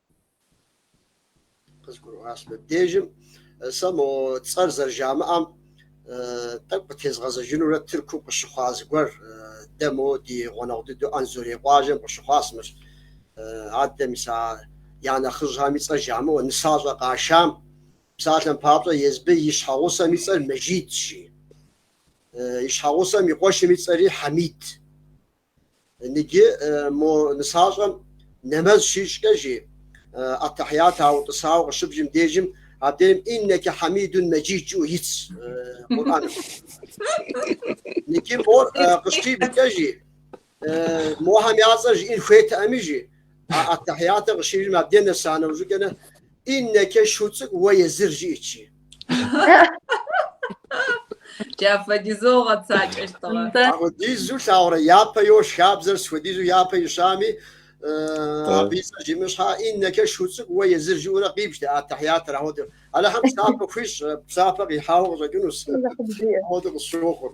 Къызгурыӏуащ мыбдежым сэ мо цӏэр зэрыжамыӏэм тӏэкӏу къытезгъэзэжынурэ Тыркум къыщыхъуа зыгуэр, дэ мо ди гъуэнэгъу дыдэу Анзорей къуажэм къыщыхъуащ мыр. Адэ мис а я нэхъыжьхэм и цӏэр жамыӏэу нысащӏэ къашам, псалъэм папщӏэ, езы абы и щхьэгъусэм и цӏэр Мэжидщ, жи. И щхьэгъусэм и къуэшым и цӏэри Хьэмид. Ныджы мо нысащӏэм нэмэз щищӏкӏэ жи, Аттахьят утӏысауэ къыщыбжым дежым абдежым Иннэкэ хьэмидун мэджид жыӏэу итщ Къурӏэным. Ныджы мор къыщибжкӏэ жи, мохэм я цӏэр жиӏэн хуейтэӏэми жи, Аттахьятыр къыщибжым абдежым нэса нэужькӏэ Иннэкэ шу цӏыкӏу уэ езыр жиӏэт, жи. Джафэдизэу агъэцакӏэщтыгъэ. Ахуэдизу лъагъурэ япэ йощ хабзэр сыт хуэдизу япэ ищами, абы и цӏэр жимыӏэн щхьэ, Иннэкэ шу цӏыкӏу уэ езыр жиӏэурэ къибжт Аттахьятыр ахуэдэу. Алыхьым псапэ хуищӏ, псапэ къихьауэ къыщӏэкӏынущ. Ахуэдэу къысщохъур.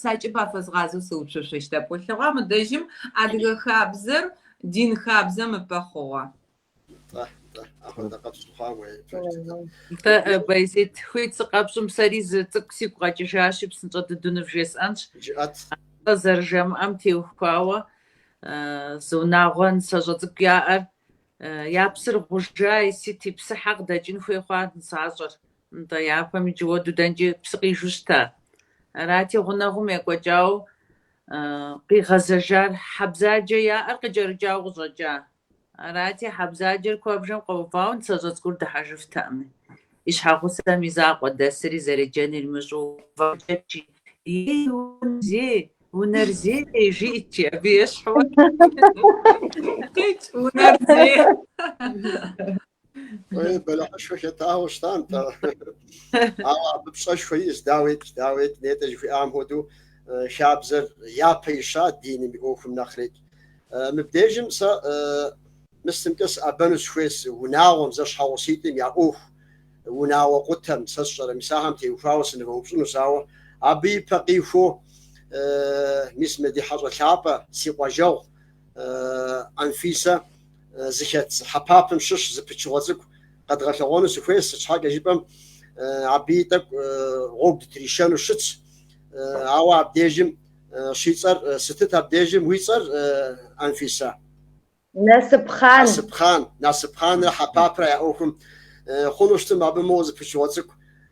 Сакӏэ пафэзгъазэу сыупщэщэ щтэпӏулъыгъэ мы дэжьым адыгэ хабзэр дин хабзэм ыпэ хъугъэ. Тэ, тэ, апэдэ къэпщӏ хъуа уей фэщӏ. Тэ, Байзет, хуит сыкъэпщӏым сэри зы цӏыкӏу сигу къэкӏыжащи, псынщӏэ дыдуну вжесӏэнщ. Жыӏэт. Цӏэ зэрыжамыӏэм теухуауэ зы унагъуэ нысэщӏэ цӏыкӏу яӏэр я псыр гъужай, сыти, псыхьэ къыдэкӏын хуей хъуа нысащӏэр? Нтӏэ, япэм иджы хуэдэу дэнкӏи псы къижу щыта? Арати, гъунэгъум екӏуэкӏауэ къигъэзэжар хьэ бзаджэ яӏэр къыкӏэрыкӏауэ къыщӏэкӏа. Арати, хьэ бзаджэр куэбжэм къэувауэ нысэщӏэ цӏыкӏур дыхьэжыфтэкъыми. И щхьэгъусэм и закъуэ дэсри, зэреджэнур имыщӏэу, увакӏэкӏи, Ей, унэ зей, унэр зей! жиӏэт, жи, абы ещхьу, уэ къикӏ унэр зей. Ой, бэлэхьышхуэ хэтауэ щыта нтӏэ. Ауэ абы пщӏэшхуэ иӏэщ, даует, даует, нетӏэ жыхуиӏам хуэдэу хабзэр япэ ищат диным и ӏуэхум нэхърет. Мыбдежым сэ мыстымкӏэ сыӏэбэну сыхуейщ унагъуэм, зэщхьэгъуситӏым я ӏуэху, унагъуэ къутэм, сэ сщӏэрэ, мис ахэм теухуауэ сынывэупщӏынущ, ауэ абы и пэ къихуэу, мис мы ди хьэщӏэ лъапӏэ, си къуажэгъу Анфисэ, зыхэт хьэпапым щыщ зы пычыгъуэ цӏыкӏу къэдгъэлъэгъуэну сыхуейщ, сыт щхьэкӏэ жыпӏэм абыи тӏэкӏу гъуэгу дытришэну щытщ, ауэ абдежым щицӏэр сытыт абдежым уи цӏэр, Анфисэ? Насыпхъан. Насыпхъан, Насыпхъанрэ хьэпапрэ я ӏуэхум хъуну щытым абы моуэ зы пычыгъуэ цӏыкӏу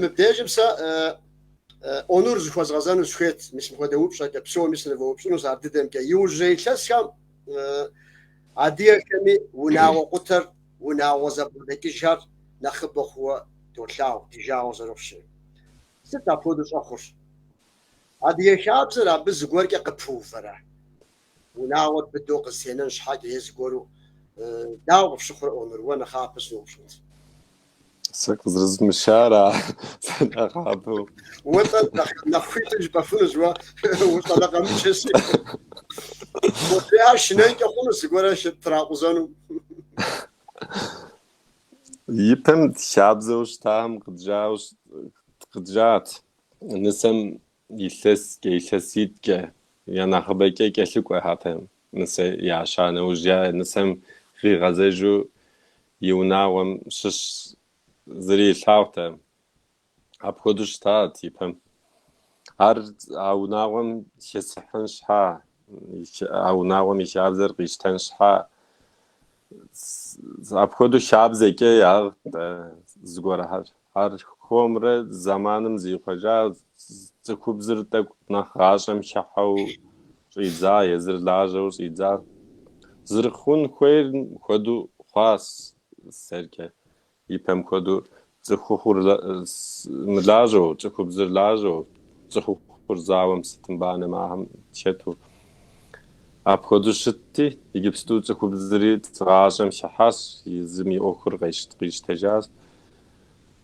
Мыбдежым сэ Онур зыхуэзгъэзэну сыхуейт, мис мыхуэдэ упщӏэкӏэ псоми сынывэупщӏынущ ар дыдэмкӏэ. Иужьрей илъэсхэм адыгэхэми унагъуэ къутэр, унагъуэ зэбгъэдэкӏыжхэр нэхъыбэ хъууэ долъагъу, ди жагъуэ зэрыхъущи. Сыт апхуэдэу щӏэхъур? Адыгэ хабзэр абы зыгуэркӏэ къыпыувэрэ? Унагъуэр быдэу къызэтенэн щхьэкӏэ е зыгуэру дауэ къыфщыхъурэ? Онур, уэ нэхъапэ сыноупщӏынт. Сэ къызэрызмыщара сэ нэхъапэу. Уэ атӏэ нэхъ хуиту жыпӏэфынущ уэ улӏэ лӏэ къэмыкӏыр си. Къулеяр шынэнкӏэ хъунущ зыгуэрэ тракъузэну. Ипэм хабзэу щытам къыджат. Нысэм Илъэскӏэ, илъэситӏкӏэ, я нэхъыбэкӏэ кӏэлъыкӏуэхэтэм нысэ яща нэужь я нысэм къигъэзэжу и унагъуэм щыщ зыри илъагъутэ. Апхуэдэу щытат ипэм. Ар а унагъуэм хесыхьын щхьа, а унагъуэм и хабзэр къищтэн щхьа, апхуэдэу хабзэкӏэ яӏэт зыгуэрхэр. Архуэмрэ зэманым зихъуэжа цӏыхубзыр тӏэкӏу нэхъ гъащӏэм хыхьэу щӏидза, езыр лажьэу щӏидза. Зэрыхъун хуейм хуэдэу хъуащ сэркӏэ, ипэм хуэдэу, цӏыхухъур мылажьэу, цӏыхубзыр лажьэу, цӏыхухъур зауэм сытым банэм ахэм хэту. Апхуэдэу щытти, иджыпсту цӏыхубзри гъащӏэм хыхьащ, езым и ӏуэхур къищтэжащ.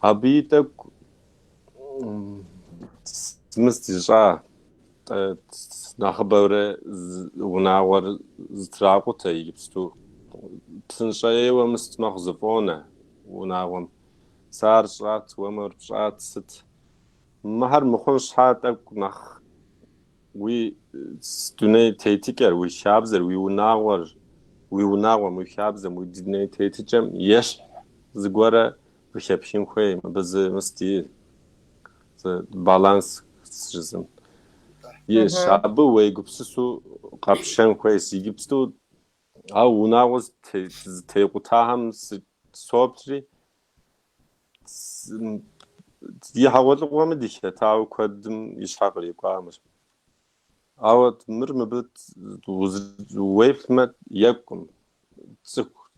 Абы и тӏэкӏу мыст ищӏа нэхъыбэурэ унагъуэр зэтракъутэ иджыпсту. Псынщӏэ ейуэ мыст мэхъу зэфӏонэ унагъуэм. Сэ ар сщӏат, уэ мыр пщӏат, сыт? Мыхьэр мыхъун щхьа тӏэкӏу нэхъ Уи дуней тетыкӏэр, уи хабзэр, уи унагъуэр, уи унагъуэм, уи хабзэм, уи дуней тетыкӏэм ещхь зыгуэрэ ухэплъын хуей, абы зы мыст и зы баланс жызым. Ещ, абы уегупсысу къэпщэн хуейс, иджыпсту ау унагъуэ зэтекъутахэм соплри, Ди хьэгъуэлӏыгъуэми дыхэтауэ куэдым и щхьэ кърикӏуамэщ. Ауэ мыр мыбы уеплъмэ екӏум.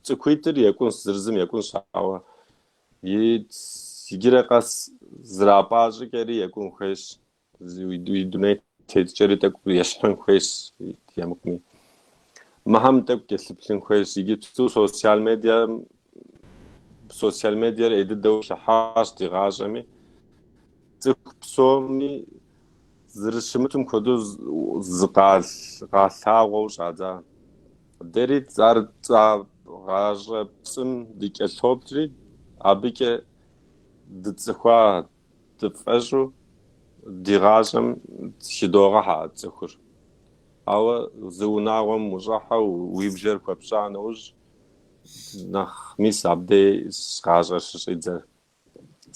Цӏыхуитӏыр екӏунщ, зыр-зым екӏунщ, ауэ иджыри къэс зэрапӏа щӏыкӏэри екӏун хуейщ. Уи дуней тетыкӏэри тӏэкӏу ещхьын хуейс е мыхъуми. Мыхьэм тӏэкӏу кӏэлъыплъын хуейс. Иджыпсту социал медиа социал медиар ӏей дыдэу хыхьащ ди гъащӏэми. Цӏыху псоми зэрыщымытым хуэдэу зыкъалъагъуэу щӏадза. Дэри ар гъащӏэ пцӏым дыкӏэлъоплъри, абыкӏэ дыцӏыхуа, Дыфӏэщӏу ди гъащӏэм хыдогъэхьэ а цӏыхур. Ауэ зы унагъуэм ущӏыхьэу уи бжэр хуэпщӏа нэужь, нэхъ мис абдей гъащӏэр щыщӏидзэр.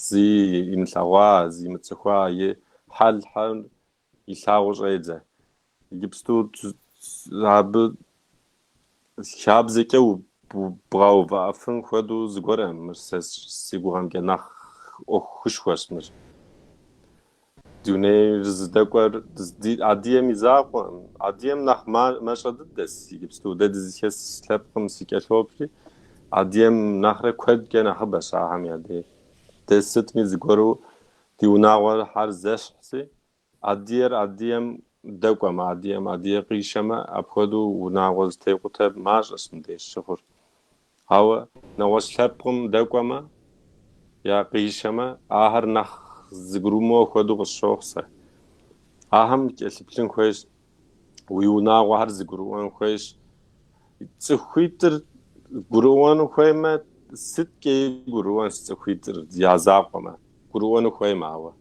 Зи имылъэгъуа, зи имыцӏыхуа и хьэлхьэр Илъагъуу щӏедзэ. Иджыпсту абы хабзэкӏэ бгъэувыӏэфын хуэдэу зыгуэрэм мыр сэ си гугъэмкӏэ нэхъ ӏуэхушхуэщ мыр. Дунейр зыдэкӏуэр Адыгэм и закъуэм, Адыгэм нэхъ мащӏэ дыдэс иджыпсту. Дэ дызыхэс лъэпкъым сыкӏэлъоплъри, Адыгэм нэхърэ куэдкӏэ нэхъыбэщ ахэм я деж. Дэ сытми зыгуэру Ди унагъуэр хьэр зэщхьси, адыйэр адыйэм дэкӏуэмэ, адыйэм адыйэ къишэмэ, апхуэдэу унагъуэ зытекъутэр мащӏэщ мыбдеж щыхъур. Ауэ нэгъуэщӏ лъэпкъым дэкӏуэмэ е къишэмэ, ахэр нэхъ зыгурымыӏуэ хуэдэу къысщохъу сэ. Ахэм кӏэлъыплъын хуейщ уи унагъуэхэр зыгурыӏуэн хуейщ. Цӏыхуитӏыр гурыӏуэну хуеймэ, сыткӏи гурыӏуэнщ цӏыхуитӏыр я закъуэмэ, гурыӏуэну хуейм ауэ.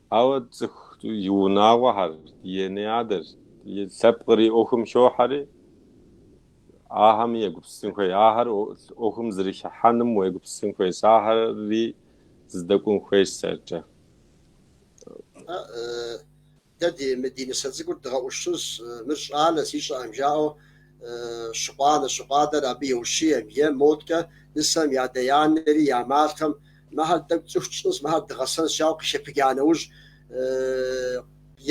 Ауэ цӏыху и унагъуэхэр, и анэ-адэр, и лъэпкъри ӏуэхум хохьэри, ахэм егупсысын хуей, ахэр ӏуэхум зэрыхыхьэным уегупсысын хуейщ, ахэри зэдэкӏун хуейщ сэркӏэ. Дэ ди, мы ди нысэ цӏыкӏур дгъэӏущыжщ, мыр щӏалэси ищӏэӏэм, жаӏэу щыкъу анэ, щыкъу адэр абы еущием е модкӏэ нысэм и адэ-анэри я малъхэм мыхьэр тӏэкӏу цӏыху тщӏынщ, мыхьэр дгъэсэнщ жаӏэу къыхэпыджа нэужь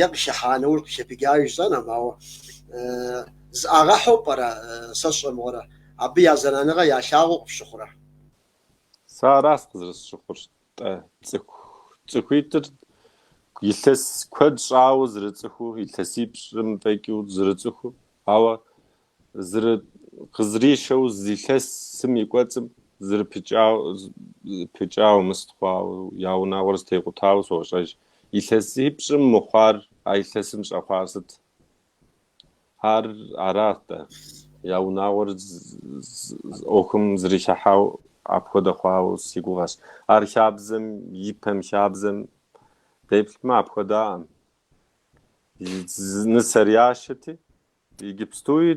е къыхыхьа нэужь къыхэпыджа жысӏэнум, ауэ зыӏагъэхьу пӏэрэ, сэ сщӏэ мыгъуэрэ, абы я зэраныгъэ ялъагъуу къыпщыхъурэ? Сэ арас къызэрысщыхъур. Тӏэ, цӏыху цӏыхуитӏыр илъэс куэд щӏауэ зырыцӏыхуу, илъэсипщӏым фӏэкӏыу зырыцӏыхуу, ауэ зыры- къызэришэу зы илъэсым и кӏуэцӏым зырыпыкӏау пыкӏауэ мы сыт хъуауэ, я унагъуэр зытекъутауэ сощӏэж. Илъэсипщӏым мыхъуар а илъэсым щӏэхъуар сыт? Ар арат-тӏэ. Я унагъуэр ӏуэхум зрихьыхьау апхуэдэ хъуауэ си гугъэщ. Ар хабзэм, ипэм хабзэм деплъмэ, апхуэдаӏым. Нысэр яшэти, Иджыпстуи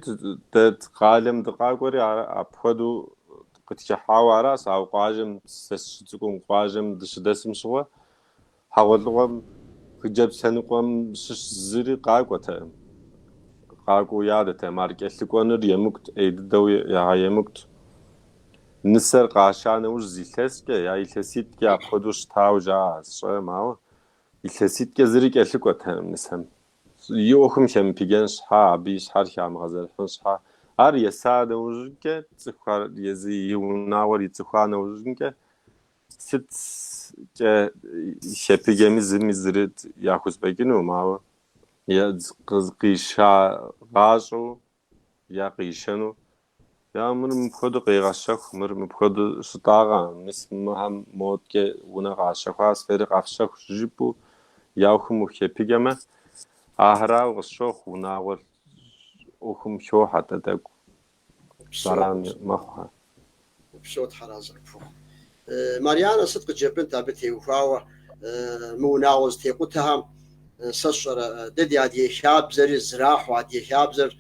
дэ къалэм дыкъакӏуэри апхуэдэу къытхыхьауэ аращ, ауэ къуажэм, сэ сыщыцӏыкӏум къуажэм дыщыдэсым щыгъуэ, Хьэгъуэлӏыгъуэм хыджэбз лъэныкъуэм щыщ зыри къакӏуэтэкъым. Къакӏуэу ядэтэкъым, ар кӏэлъыкӏуэныр емыкӏут, ӏей дыдэу ягъэемыкӏут. Нысэр къаша нэужь зы илъэскӏэ, я илъэситӏкӏэ апхуэдэу щытауэ жаӏэ сщӏэрэм, ауэ илъэситӏкӏэ зыри кӏэлъыкӏуэтэкъым нысэм. И ӏуэхум хемыпыджэн щхьа, абы и щхьэр хамыгъэзэрыхьын щхьа, ар еса нэужькӏэ, цӏыхухэр езы и унагъуэр ицӏыхуа нэужькӏэ, Сыткӏэ хепыджэми зыми зыри яхузэпӏэкӏынукъым, ауэ къишагъащӏэу я къишэну. Я мыр мыпхуэдэу къегъэщэху, мыр мыпхуэдэу щытӏагъэ, мис мыхьэм модкӏэ унэ къащэхуас, фэри къэфщэху жыпӏэу я ӏуэхум ухепыджэмэ, ахэрауэ къысщохъу, унагъуэ ӏуэхум хохьэ дэ тӏэкӏу. зэран мэхъуэ. Упсэу Тхьэразэ къыпхухъу. Марьянэ сыт къыджепӏэнт абы теухуауэ мы унагъуэ зытекъутэхэм, сэ сщӏэрэ, дэ ди адыгэ хабзэри зэрахьэу, адыгэ хабзэр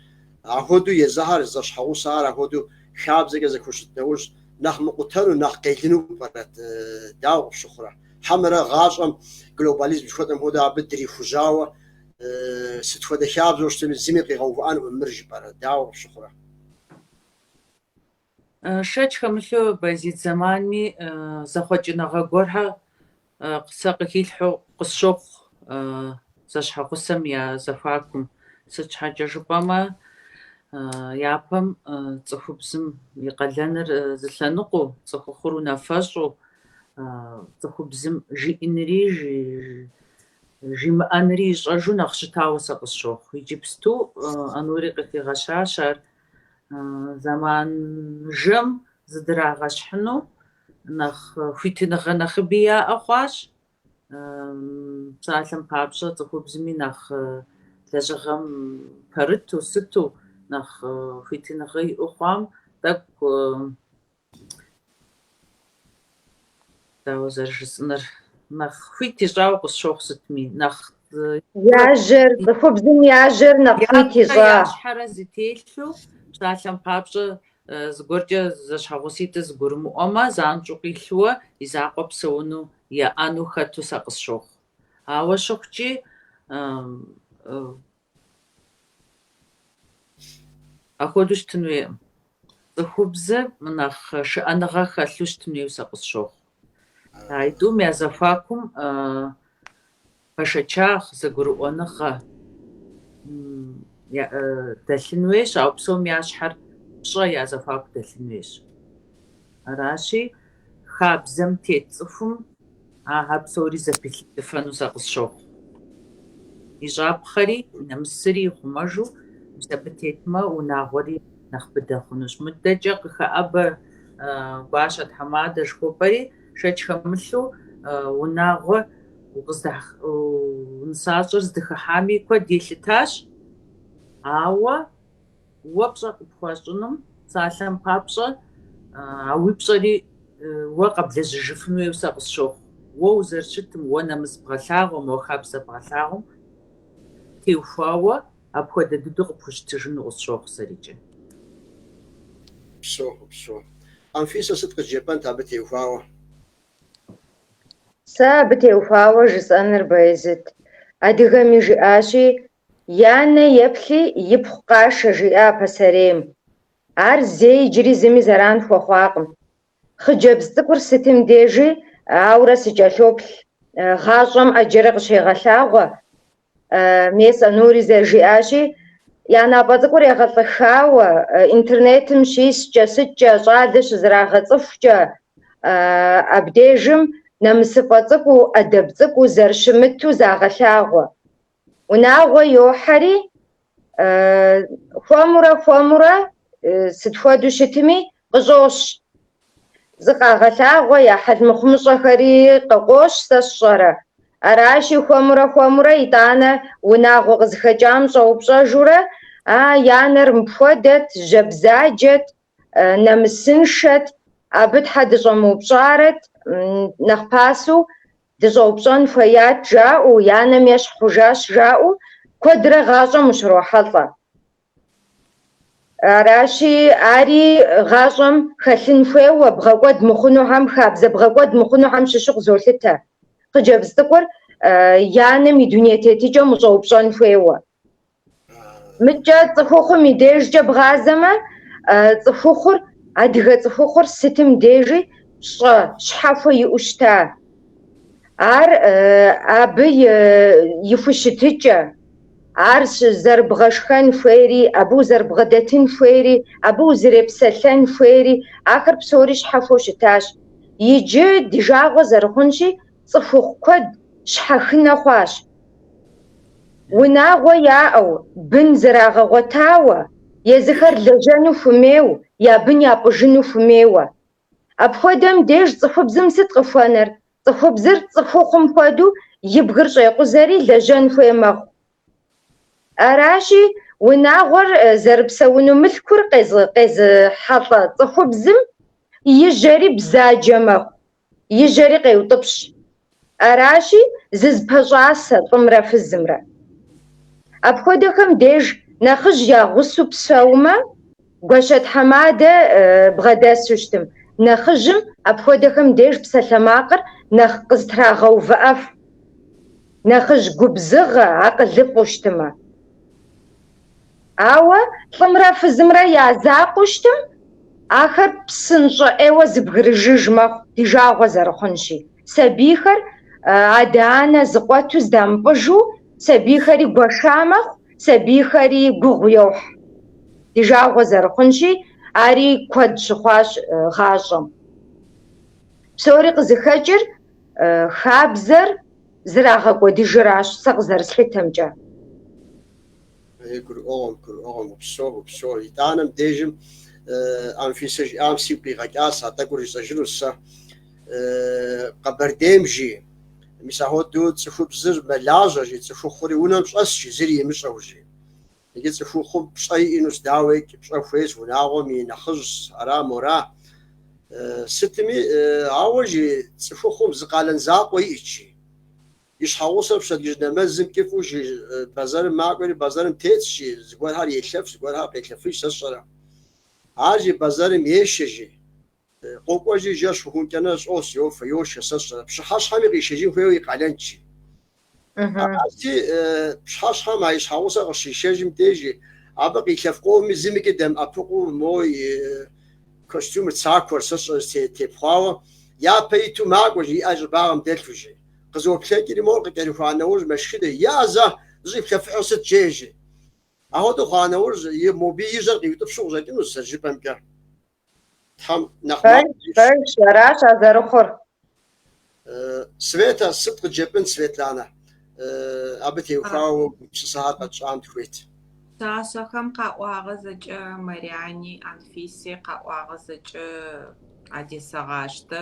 ахуэду езыхьэр, зэщхьэгъусэхэр ахуэду хабзэкӏэ зэхущыт нэужь нэхъ мыкъутэну, нэхъ къелыну пӏэрэт, дауэ къыпщыхъурэ? Хьэмэрэ гъащӏэм глобализм жыхуэтӏэм хуэдэу абы дрихужьауэ, Сыт хуэдэ хабзэу щытми, зыми къигъэувыӏэнукъым, мыр жыпӏэрэ, дауэ къыпщыхъурэ? Шэч хэмылъу Байзид зэманми зэхъуэкӏыныгъэ гуэрхэр сэ къыхилъхьэу къысщохъу зэщхьэгъусэм я зэхуакум, сыт щхьэкӏэ жыпӏэмэ, япэм цӏыхубзым и къалэныр зы лъэныкъуэу, цӏыхухъур унафэщӏу, цӏыхубзым жиӏэнри Жимыӏэнри ищӏэжу нэхъ щытауэ сэ къысщохъу. Иджыпсту Ӏэнури къыхигъэщащ ар зэман жэм зыдрагъэщхьыну, нэхъ хуитыныгъэ нэхъыби яӏэ хъуащ. Псалъэм папщӏэ, цӏыхубзми нэхъ лэжьыгъэм пэрыту, сыту нэхъ хуитыныгъэ иӏэу хъуам тӏэкӏу Дауэ зэрыжысӏэныр нэхъ хуит ищӏауэ къысщохъу сытми, нэхъ я жьэр, цӏыхубзым я жьэр нэхъ хуит ищӏа? Я щхьэрэ зытелъу псалъэм папщӏэ зыгуэркӏэ зэщхьэгъуситӏыр зэгурымыӏуэмэ, занщӏэу къилъууэ и закъуэ псэуну еӏэну хэту сэ къысщохъу. Ауэ щыхъукӏи, Апхуэдэу щытын хуейкъым. Цӏыхубзыр нэхъ шыӏэныгъэ хэлъу щытын хуейуэ сэ къысщохъу. А итӏум я зэхуакум пэшэчагъ, зэгурыӏуэныгъэ дэлъын хуейщ, ауэ псом я щхьэр пщӏэ я зэхуаку дэлъын хуейщ. Аращи, Хабзэм тет цӏыхум ахэр псори зэпилъыдыфэну сэ къысщохъу. И щӏапхъэри, и нэмысри ихъумэжу мис абы тетмэ, унагъуэри нэхъ быдэ хъунущ. Мыдэкӏэ къыхэӏэбэ гуащэ тхьэмадэ жыхуэпӏэри, шэч хэмылъу унагъуэ укъыздыхь, нысащӏэр здыхыхьами куэд елъытащ, ауэ. Уэ пщӏэ къыпхуащӏынум, псалъэм папщӏэ, а уи пщӏэри уэ къэблэжьыжыфын хуейуэ сэ къысщохъу. Уэ узэрыщытым, уэ нэмыс бгъэлъагъуэм, уэ хабзэ бгъэлъагъуэм теухуауэ апхуэдэ дыдэу къыпхущытыжыну къысщохъу сэркӏэ. Упсэу, упсэу. Анфисэ сыт къыджепӏэнт абы теухуауэ? Сэ абы теухуауэ жысӏэныр, Баязыт, адыгэми жиӏащи, И анэ еплъи, ипхъу къашэ, жиӏа пасэрейм. Ар зэи иджыри зыми зэран хуэхъуакъым. Хъыджэбз цӏыкӏур сытым дежи, ауэрэ сыкӏэлъоплъ, гъащӏэм ӏэджэрэ къыщегъэлъагъуэ. Мес Анури зэрыжиӏащи, я напӏэ цӏыкӏур егъэлӏыхауэ, интернетым щискӏэ, сыткӏэ, щӏалэ щызэрагъэцӏыхукӏэ, абдежым нэмысыфӏэ цӏыкӏуу, ӏэдэб цӏыкӏуу зэрыщымыту загъэлъагъуэ. Унагъуэ йохьэри, хуэмурэ хуэмурэ сыт хуэдэу щытми, къыщӏощ. Зыкъагъэлъагъуэ я хьэл мыхъумыщӏэхэри къыкъощ, сэ сщӏэрэ. Аращи, хуэмурэ хуэмурэ итӏанэ унагъуэ къызыхэкӏам щӏэупщӏэжурэ, А, и анэр мыпхуэдэт, жьэ бзаджэт, нэмысыншэт, абы щхьэ дыщӏэмыупщӏарэт, нэхъ пасэу Дыщӏэупщӏэн хуеят жаӏэу, и анэм ещхь хъужащ жаӏэу куэдрэ гъащӏэм ущрохьэлӏэ. Аращи, ари гъащӏэм хэлъын хуейуэ, бгъэкӏуэд мыхъунухэм, хабзэ бгъэкӏуэд мыхъунухэм щыщу къызолъытэ. Хъыджэбз цӏыкӏур и анэм и дуней тетыкӏэм ущӏэупщӏэн хуейуэ. Мыкӏэ цӏыхухъум и дежкӏэ бгъазэмэ, цӏыхухъур, адыгэ цӏыхухъур сытым дежи пщӏэ щхьэхуэ иӏэу щыта. Ар абы и хущытыкӏэ, ар зэрыбгъэшхэн хуейри, абы узэрыбгъэдэтын хуейри, абы узрепсэлъэн хуейри, ахэр псори щхьэхуэу щытащ. Иджы ди жагъуэ зэрыхъунщи, цӏыхухъу куэд щхьэхынэ хъуащ. Унагъуэ яӏэу, бын зэрагъэгъуэтауэ, езыхэр лэжьэну хумейу, я бын япӏыжыну хумейуэ. Апхуэдэм деж цӏыхубзым сыт къыхуэнэр? Цӏыхубзыр цӏыхухъум хуэдэу и бгыр щӏекъузэри лэжьэн хуей мэхъу. Аращи, унагъуэр зэрыпсэуну мылъкур къез- къезыхьэлӏэ цӏыхубзым и жьэри бзаджэ мэхъу. и жьэри къеутӏыпщ. Аращи, зызпэщӏасэ лӏымрэ фызымрэ. Апхуэдэхэм деж нэхъыжь я гъусэу псэумэ, гуащэ тхьэмадэ бгъэдэсу щытым. Нэхъыжьым апхуэдэхэм деж псалъэмакъыр нэхъ къызэтрагъэувыӏэфу, нэхъыжь губзыгъэ, акъылыфӏу щытымэ. Ауэ лӏымрэ фызымрэ я закъуэу щытым, ахэр псынщӏэ ӏейуэ зыбгрыжыж мэхъу, ди жагъуэ зэрыхъунщи. Сабийхэр адэ-анэ зыкъуэту здамыпӏыжу, сабийхэри гуэша мэхъу, сабийхэри гугъу йохь, ди жагъуэ зэрыхъунщи, ари куэд щыхъуащ гъащӏэм. Псори къызыхэкӏыр хабзэр зэрагъэкӏуэдыжыращ, сэ къызэрыслъытэмкӏэ. Гурыӏуэгъуэм, гурыӏуэгъуэм, упсэу, упсэу. Итӏанэ мыбдежым Анфисэ жиӏам сигу къигъэкӏащ, а тӏэкӏур жысӏэжынущ сэ. Къэбэрдейм жи, мис ахуэдэу цӏыхубзыр мэлажьэ жи, цӏыхухъури унэм щӏэс жи, зыри имыщӏэу жи. Иджы цӏыхухъум пщӏэ иӏэнущ, дауеикӏ, пщӏэ хуейщ, унагъуэм и нэхъыжьщ, ара, мора. Сытми, ауэ жи, цӏыхухъум зы къалэн закъуэ иӏэщ жи. И щхьэгъусэр пщэдджыжь нэмэзым кӏыфӏу жи бэзэрым макӏуэри, бэзэрым тетщ жи, зыгуэрхэр елъэф, зыгуэрхэр къелъэфыж, сэ сщӏэрэ. Ар жи бэзэрым ешэ жи. Къокӏуэжи жэщ хъухункӏэ унэм щӏэс, йофэ, йошхэ, сэ сщӏэрэ. Пщыхьэщхьэми къишэжын хуейуэ и къалэнщ жи. Арати, пщыхьэщхьэм а и щхьэгъусэр къыщишэжым дежи, абы къилъэф къомми зымикӏи дэмыӏэпыкъуу, мо и костюмыр, цакуэр, сэ сщӏэрэ, тепхъуауэ, япэ иту макӏуэ жи, и ӏэр щӏыбагъым дэлъу жи. Къызоплъэкӏри, мор къыкӏэрыхуа нэужь мэшхыдэ язэ зыщӏэплъэфыхьыр сыт жеӏэ жи. Ахуэдэу хъуа нэужь, мобы и жьэр къиутӏыпщу къыщӏэкӏынущ зэрыжыпӏэмкӏэ. Тхьэм нэхъ макъ Пэж, зищӏ. пэж, аращ а зэрыхъур. Светэ, сыт къыджепӏын, Светланэ? Абы теухуауэ уи гупсысэхэр къэтщӏам тхуейт. Пшъашъэхэм къаӏуагъэ зэкӏэ Марьяни, Анфиси къаӏуагъэ зэкӏэ адесэгъаштэ.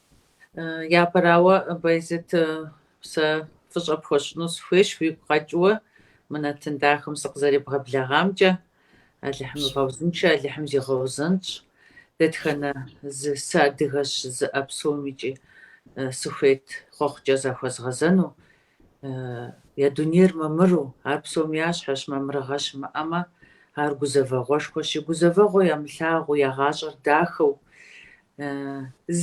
Япэрауэ, Байзет, сэ фӏыщӏэ пхуэщӏыну сыхуейщ уигу къэкӏыуэ мы нэтын дахэм сыкъызэребгъэблэгъамкӏэ. Алыхьым игъэузыншэ Алыхьым зигъэузэнщӏ. Дэтхэнэ зы сыадыгэщ жызыӏэ псом икӏи сыхуейт хъуэхъукӏэ захуэзгъэзэну, Я дунейр мамыру, ар псом я щхьэщ, мамырыгъэ щымыӏэмэ, ар гузэвэгъуэшхуэщи, гузэвэгъуэ ямылъагъуу, я гъащӏэр дахэу,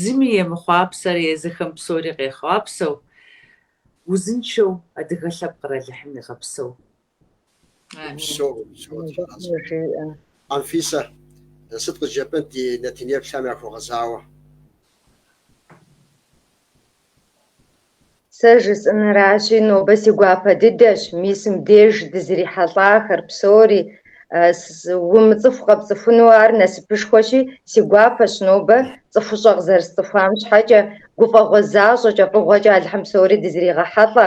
зыми емыхъуапсэрэ езыхэм псори къехъуапсэу, узыншэу адыгэ лъэпкъыр Алыхьым игъэпсэу, Анфисэ, сыт къыджепӏэнт ди нэтынеплъхэм яхуэгъэзауэ? Сэ жысӏэныращи, нобэ си гуапэ дыдэщ, мис мыдеж дызрихьэлӏахэр псори умыцӏыху къэпцӏыхуну ар насыпышхуэщи, си гуапэщ нобэ цӏыхущӏэ къызэрысцӏыхуам щхьэкӏэ, гуфӏэгъуэ защӏэкӏэ, фӏыгъуэкӏэ Алыхьым псори дызэригъэхьэлӏэ,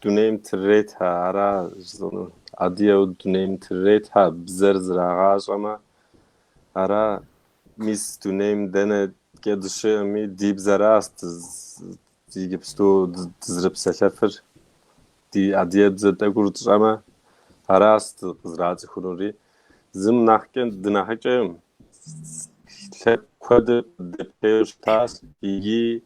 Дунейм тыретхэ ара жысӏэнур? Адыеу дунейм тыретхэ бзэр зрагъащӏэмэ ара мис дунейм дэнэкӏэ дыщыӏэми ди бзэращ дэ иджыпсту дызэрыпсэлъэфыр. Ди адые бзэ тӏэкӏур тщӏэмэ аращ дыкъызэрацӏыхунури. Зым нахькӏэ дынахьыкӏэкъым лъэпкъ куэд къыддеплъейуэ щытащ икӏи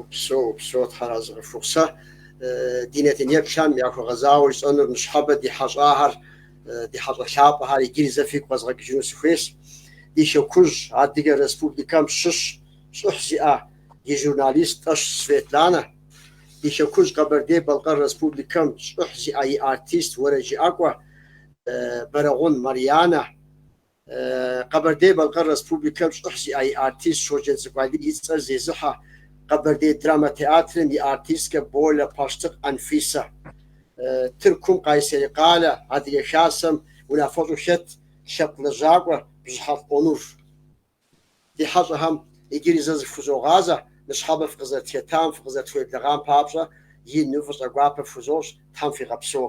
Упсэу, упсэу, Тхьэра зыкъыфхухъу, сэ. Ди нэтын еплъхэм яхуэгъэзауэ жысӏэнур ныщхьэбэ ди хьэщӏахэр, ди хьэщӏэ лъапӏэхэр иджыри зэ фигу къэзгъэкӏыжыну сыхуейщ. Ди Хэкужь, Адыгэ Республикэм щыщ щӏыхь зиӏэ ди журналист Тӏэш Светланэ. Ди Хэкужь, Къэбэрдей-Балъкъэр Республикэм щӏыхь зиӏэ и артист уэрэджыӏакӏуэ Бэрэгъун Марьянэ. Къэбэрдей-Балъкъэр Республикэм щӏыхь зиӏэ и артист Щоджэнцӏыкӏу Алий и цӏэр зезыхьэ Къэбэрдей драмэ театрым и артисткэ Болэ Пащтыкъ Анфисэ. Тыркум, Къайсери къалэ, Адыгэ Хасэм унафэщӏу хэт лъэпкъ лэжьакӏуэ Бжьыхьэфӏ Онур. Ди хьэщӏэхэм иджыри зэ зыфхузогъазэ, ныщхьэбэ фыкъызэрытхетам, фыкъызэрытхуеблэгъам папщӏэ ину фӏыщӏэ гуапэ фхузощӏ, Тхьэм фигъэпсэу.